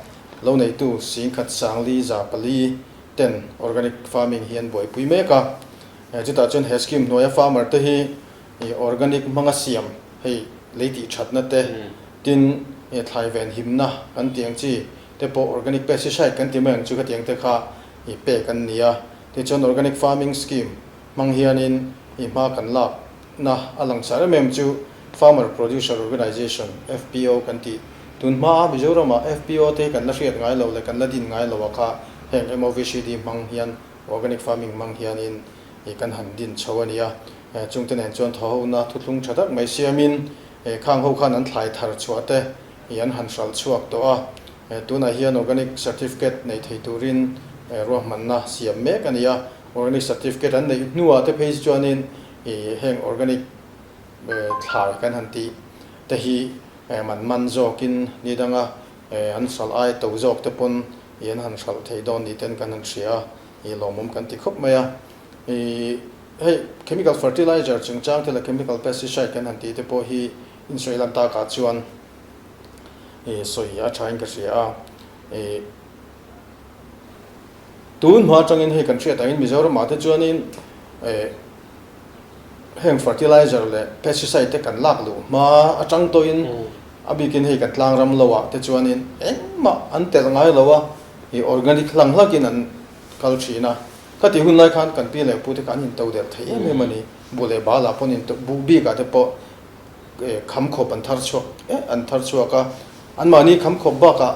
lo neitu singkhat sang li za pali ten organic farming hi an buaipui mek a. Eh, chutah chuan he scheme hnuaia farmer te hi eh, organic hmanga siam hei lei tih thatna te, tin eh, thlai ven himna kan ti ang chi te pawh organic pesticide kan ti mai ang chu khatiang te kha eh, pek an ni a. Tichuan organic farming scheme. Hmang hianin i hma kan lak na a lang chhan em em chu Farmer Producer Organisation, FPO, kan ti. Tun hmaa Mizorama FPO te kan la hriat ngai lo leh kan la din ngai loa kha heng MOVCD hmang hian Organic Farming hmang hianin i kan han din chho a nia. Chungte nen chuan thaho na thuthlung tha tak mai siamin khang ho khan an thlai thar chhuah te i an han hralh chhuak tawh a. Tunah hian Organic Certificate nei thei turin ruahmanna siam mek a nia. Organic certificate an neih hnuah te phei chuanin i heng organic thlai kan han tih te hi man man zawkin ni dang a, an hralh ai to zawk te pawn i an han hralh thei dawn ni ten kan han hria a, i lawmawm kan ti khawp mai a. I hei chemical fertilizer chungchang te leh chemical pesticide kan han tih te pawh hi insawi lan tak ah chuan i sawi a thain ka hria a. I. Tun hma atangin hei kan hriat angin Mizoramah te chuanin heng fertilizer leh pesticide te kan lak luh hma atang tawhin a bikin hei kan tlang ram loah te chuanin engmah an telh ngai lo a, hei organic hlang hlakin an kal thin a. Khati hun lai khan kan pi leh pu te kha an into der thei em em a ni. Buh leh balah pawn into, buh bikah te pawh kham khawp an thar chhuak, eh an thar chhuak a. Anmahni kham khawp bakah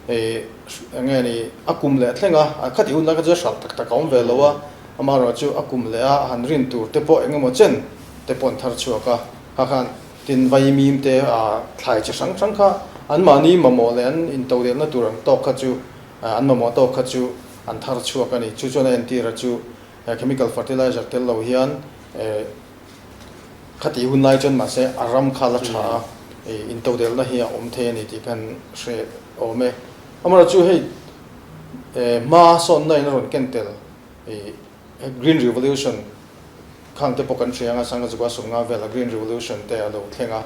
eng nge ni, a kum leh thleng a, a khat i hun lai kha chu a hralh tak tak a awm ve lo a, amaherawhchu chu a kum leh a, a han rin tur te pawh eng emaw chen te pawh an thar chhuak a, kha khan tin vai mim te a thlai chi hrang hrang kha anmahni mamawh leh an in to leh na tur ang tawk kha chu an mamawh tawk kha chu an thar chhuak a ni, chu chuan a entir a chu chemical fertilizer tel lo hian Khati hun lai chuan mahse a ram kha la tha a, intodelna hi a awm thei a ni tih khan hre awm e. Amaherawhchu chu hei hma sawnna in a rawn ken tel Green Revolution kha ang te pawh kan hria anga Sanghazuka a sum nga vela Green Revolution te a lo thleng a,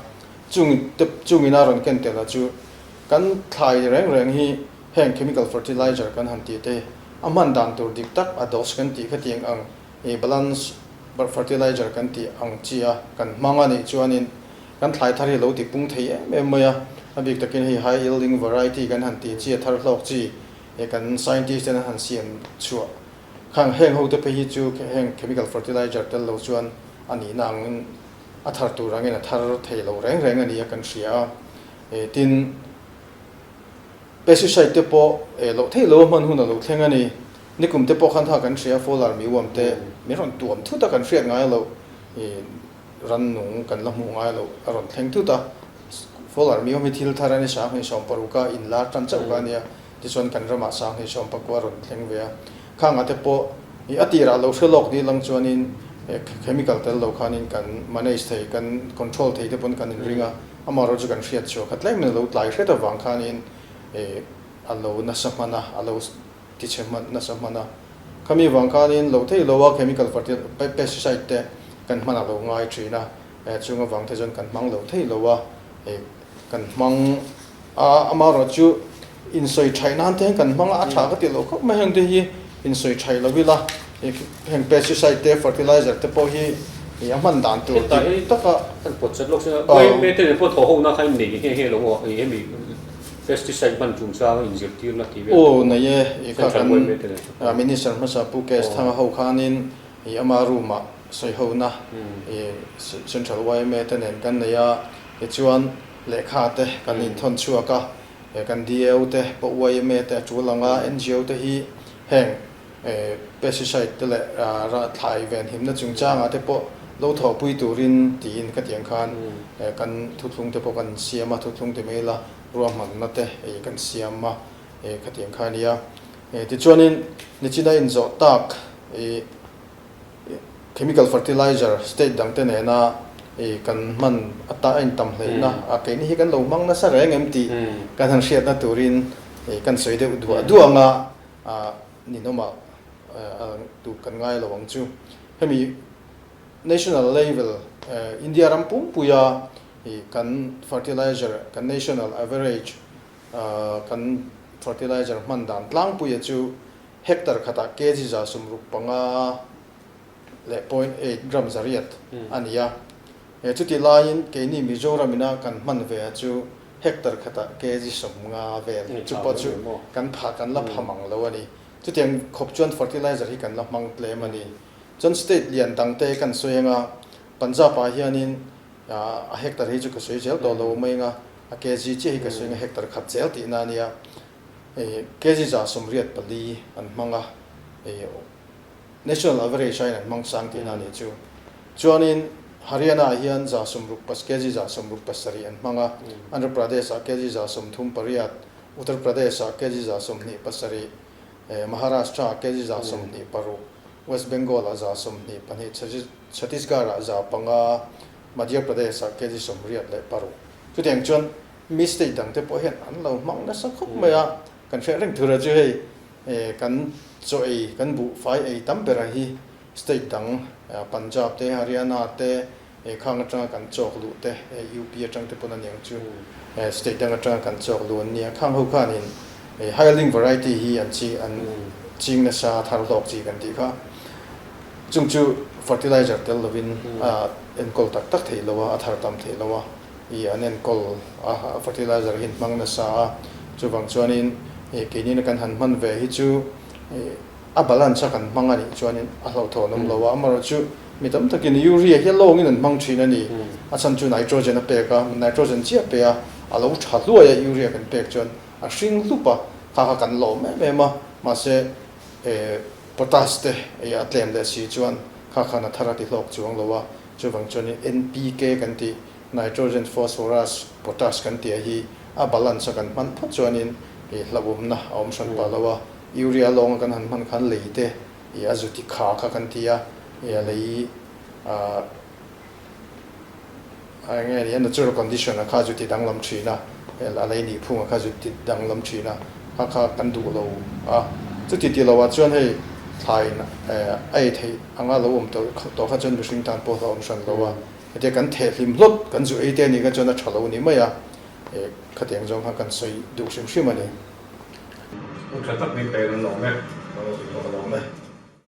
chung te chung ina rawn ken tel ah chu kan thlai reng reng hi heng Chemical Fertilizer kan han tih te a hman dan tur dik tak a dose kan tih khatiang ang I balance fertilizer kan tih ang chi a, kan hmang a nih chuanin kan thlai thar hi lo ti pung thei em em mai a, a bik takin hei high yielding variety kan han tih chi a thar hlawk chi i kan scientist ten an han siam chhuah khang heng ho te phei hi chu heng chemical fertilizer tel lo chuan a nihna angin a thar tur angin a thar thei lo reng reng a nia kan hria a, tin. Pesticide te pawh eh loh thei lo a hman hun a lo thleng a ni. Nikum te pawh khan tha kan hria, fowler mi uam te min rawn tuam thut a kan hriat ngai lo. Ih rannung kan la hmuh ngai lo a rawn thleng thut a. Fowler mi uam hi thil thar a ni, sanghnih sawm paruk a inlar tan chauh kha a nia. Tichuan kan ramah sanghnih sawm pakua rawn thleng ve a. Kha nga te pawh i a tirah lo hre lawk dirlang chuanin he chemical tel lo khanin kan manage thei, kan control thei te pawn kan inring a, amaherawhchu kan hriat chhuah kha tlemin a lo tlai hret avang khanin a lo nasa hman a, a lo ti chhe hman, nasa hman a. Khami vang khanin lo thei lo a chemical fertilizer, pesticide te kan hmanah lo ngai thin a, chunga vang te chuan kan hmang lo thei lo a. kan hmang a, amaherawh chu insawi thai nan te hian kan hmang a, a tha ka tih loh khawp mai heng te hi insawi thai lo ila heng pesticide te fertilizer te pawh hi a hman dan tur dik tak a, kan pawt zet lawk se a, mai mai te nen pawh thaw ho na kha innei nge nge lo aw hemi pesticide hman chung changa inzir tir na tih vel aw nei e ih kha kan minister hmasa pu KS thanga ho khanin ih ama room ah sawi ho na ih central yma te nen kan nei a, Kei chuan lehkha te kan inthawn chhuak a, e kan DAO te pawh YMA te a tul ang a, NGO te hi heng e pesticide te leh rah thlai ven himna chungchang ah te pawh lo thawhpui turin tiin khatiang khan e kan thutthlung te pawh kan siam a, thutthlung ti mai ila ruahmanna te ei kan siam a e khatiang khan a nia. E tichuanin nichina inzawh tak i. Chemical fertilizer state dang te nena kan hman ata a intam hleihna a keini hi kan lo hmang nasa reng em tih kan han hriatna turin kan sawi deuh duah duah anga ninawmah duh kan ngai lo ang chu. Hemi national level India ram pumpuia kan fertilizer kan national average Kan fertilizer hman dan tlangpuia chu hectare khatah kg za sum ruk panga leh point eight gram zariat a ni a, chutih laiin keini Mizoramina kan hman ve a chu hectare khatah kg sum nga vel chu pawh chu kan phah kan la pham ang lo a ni. Chuti ang khawp chuan fertilizer hi kan la hmang tlem a ni. Chuan state lian dangte kan sawi anga Punjab ah hianin a hectare hi chu ka sawi zel tawh lo mai anga a kg chiah hi ka sawi anga hectare khat zel tih na ania kg zah sawmriat pali an hmang a national average aiin an hmang sang tih na nih chu chuanin Haryana ah hian zah sawmruk pas kg zah sawmruk pasarih an hmang a Andhra Pradesh ah kg zah sawmthum pariat Uttar Pradesh ah kg zah sawmhnih pasarih Maharashtra ah kg zah sawmhnih paruk West Bengal ah zah sawmhnih pahnih chhe Chhattisgarh-ah za panga, Madhya Pradesh-ah kg sawm riat leh paruk. Chutiang chuan mi state dangte pawh hian an lo hmang nasa khawp mai a, kan hriat reng thura chu hei kan chaw ei, kan buhfai ei tam bera hi state dang Punjab te, Haryana te, khang atanga kan chawk luh te, UP atang te pawn a niang chu state dang atanga kan chawk luh an ni a, khang ho khanin hailing variety hi an ching nasa a thar hlawk chi kan tih kha. Chung chu fertilizer tel lovin a enkawl tak tak theih lo a, a thar tam theih lo a, i an enkawl a fertilizer hi hmang nasa a, chuvang chuanin i keinina kan han hman ve hi chu i a balance a kan hmang a nih chuanin a hlauhthaw an awm lo a, amaherawh chu mi tam takin urea hi a lawngin an hmang thin a ni, a chhan chu nitrogen a pek a, nitrogen chiah pe a, a lo tha hluai a urea kan pek chuan a hring hlup a, kha kha kan lawm em em a, mahse E, potash te ei a tlen leh si chuan kha khan a thar a ti hlawk chuang lo a, chuvang chuanin NPK kan tih Nitrogen, Phosphorus, Potash kan tih a hi a balance a kan hman phawt chuanin i hlauhawmna a awm hran pah lo a, Urea lawng a kan han hman khan lei te i a zuti kha kha kan ti a, i a lei a. Enge a nih a, natural condition-a kha zut ti danglam thin a, a lei nih phunga kha zut ti danglam thin a, kha kha kan duh lo a. Chuti ti lohah chuan hei thlaiin a ei theih anga lo awm tawh kha chuan mihring tan pawh hlauhawm hran lo a, hetiang kan theh hlim hlawt kan zu ei te a nih kha chuan a tha lo ni mai a, khatiang zawng kha kan sawi duh hrim hrim a ni. Hmuh tha tak bik te kan lawm e, kan lo sawi tawh ka lawm e.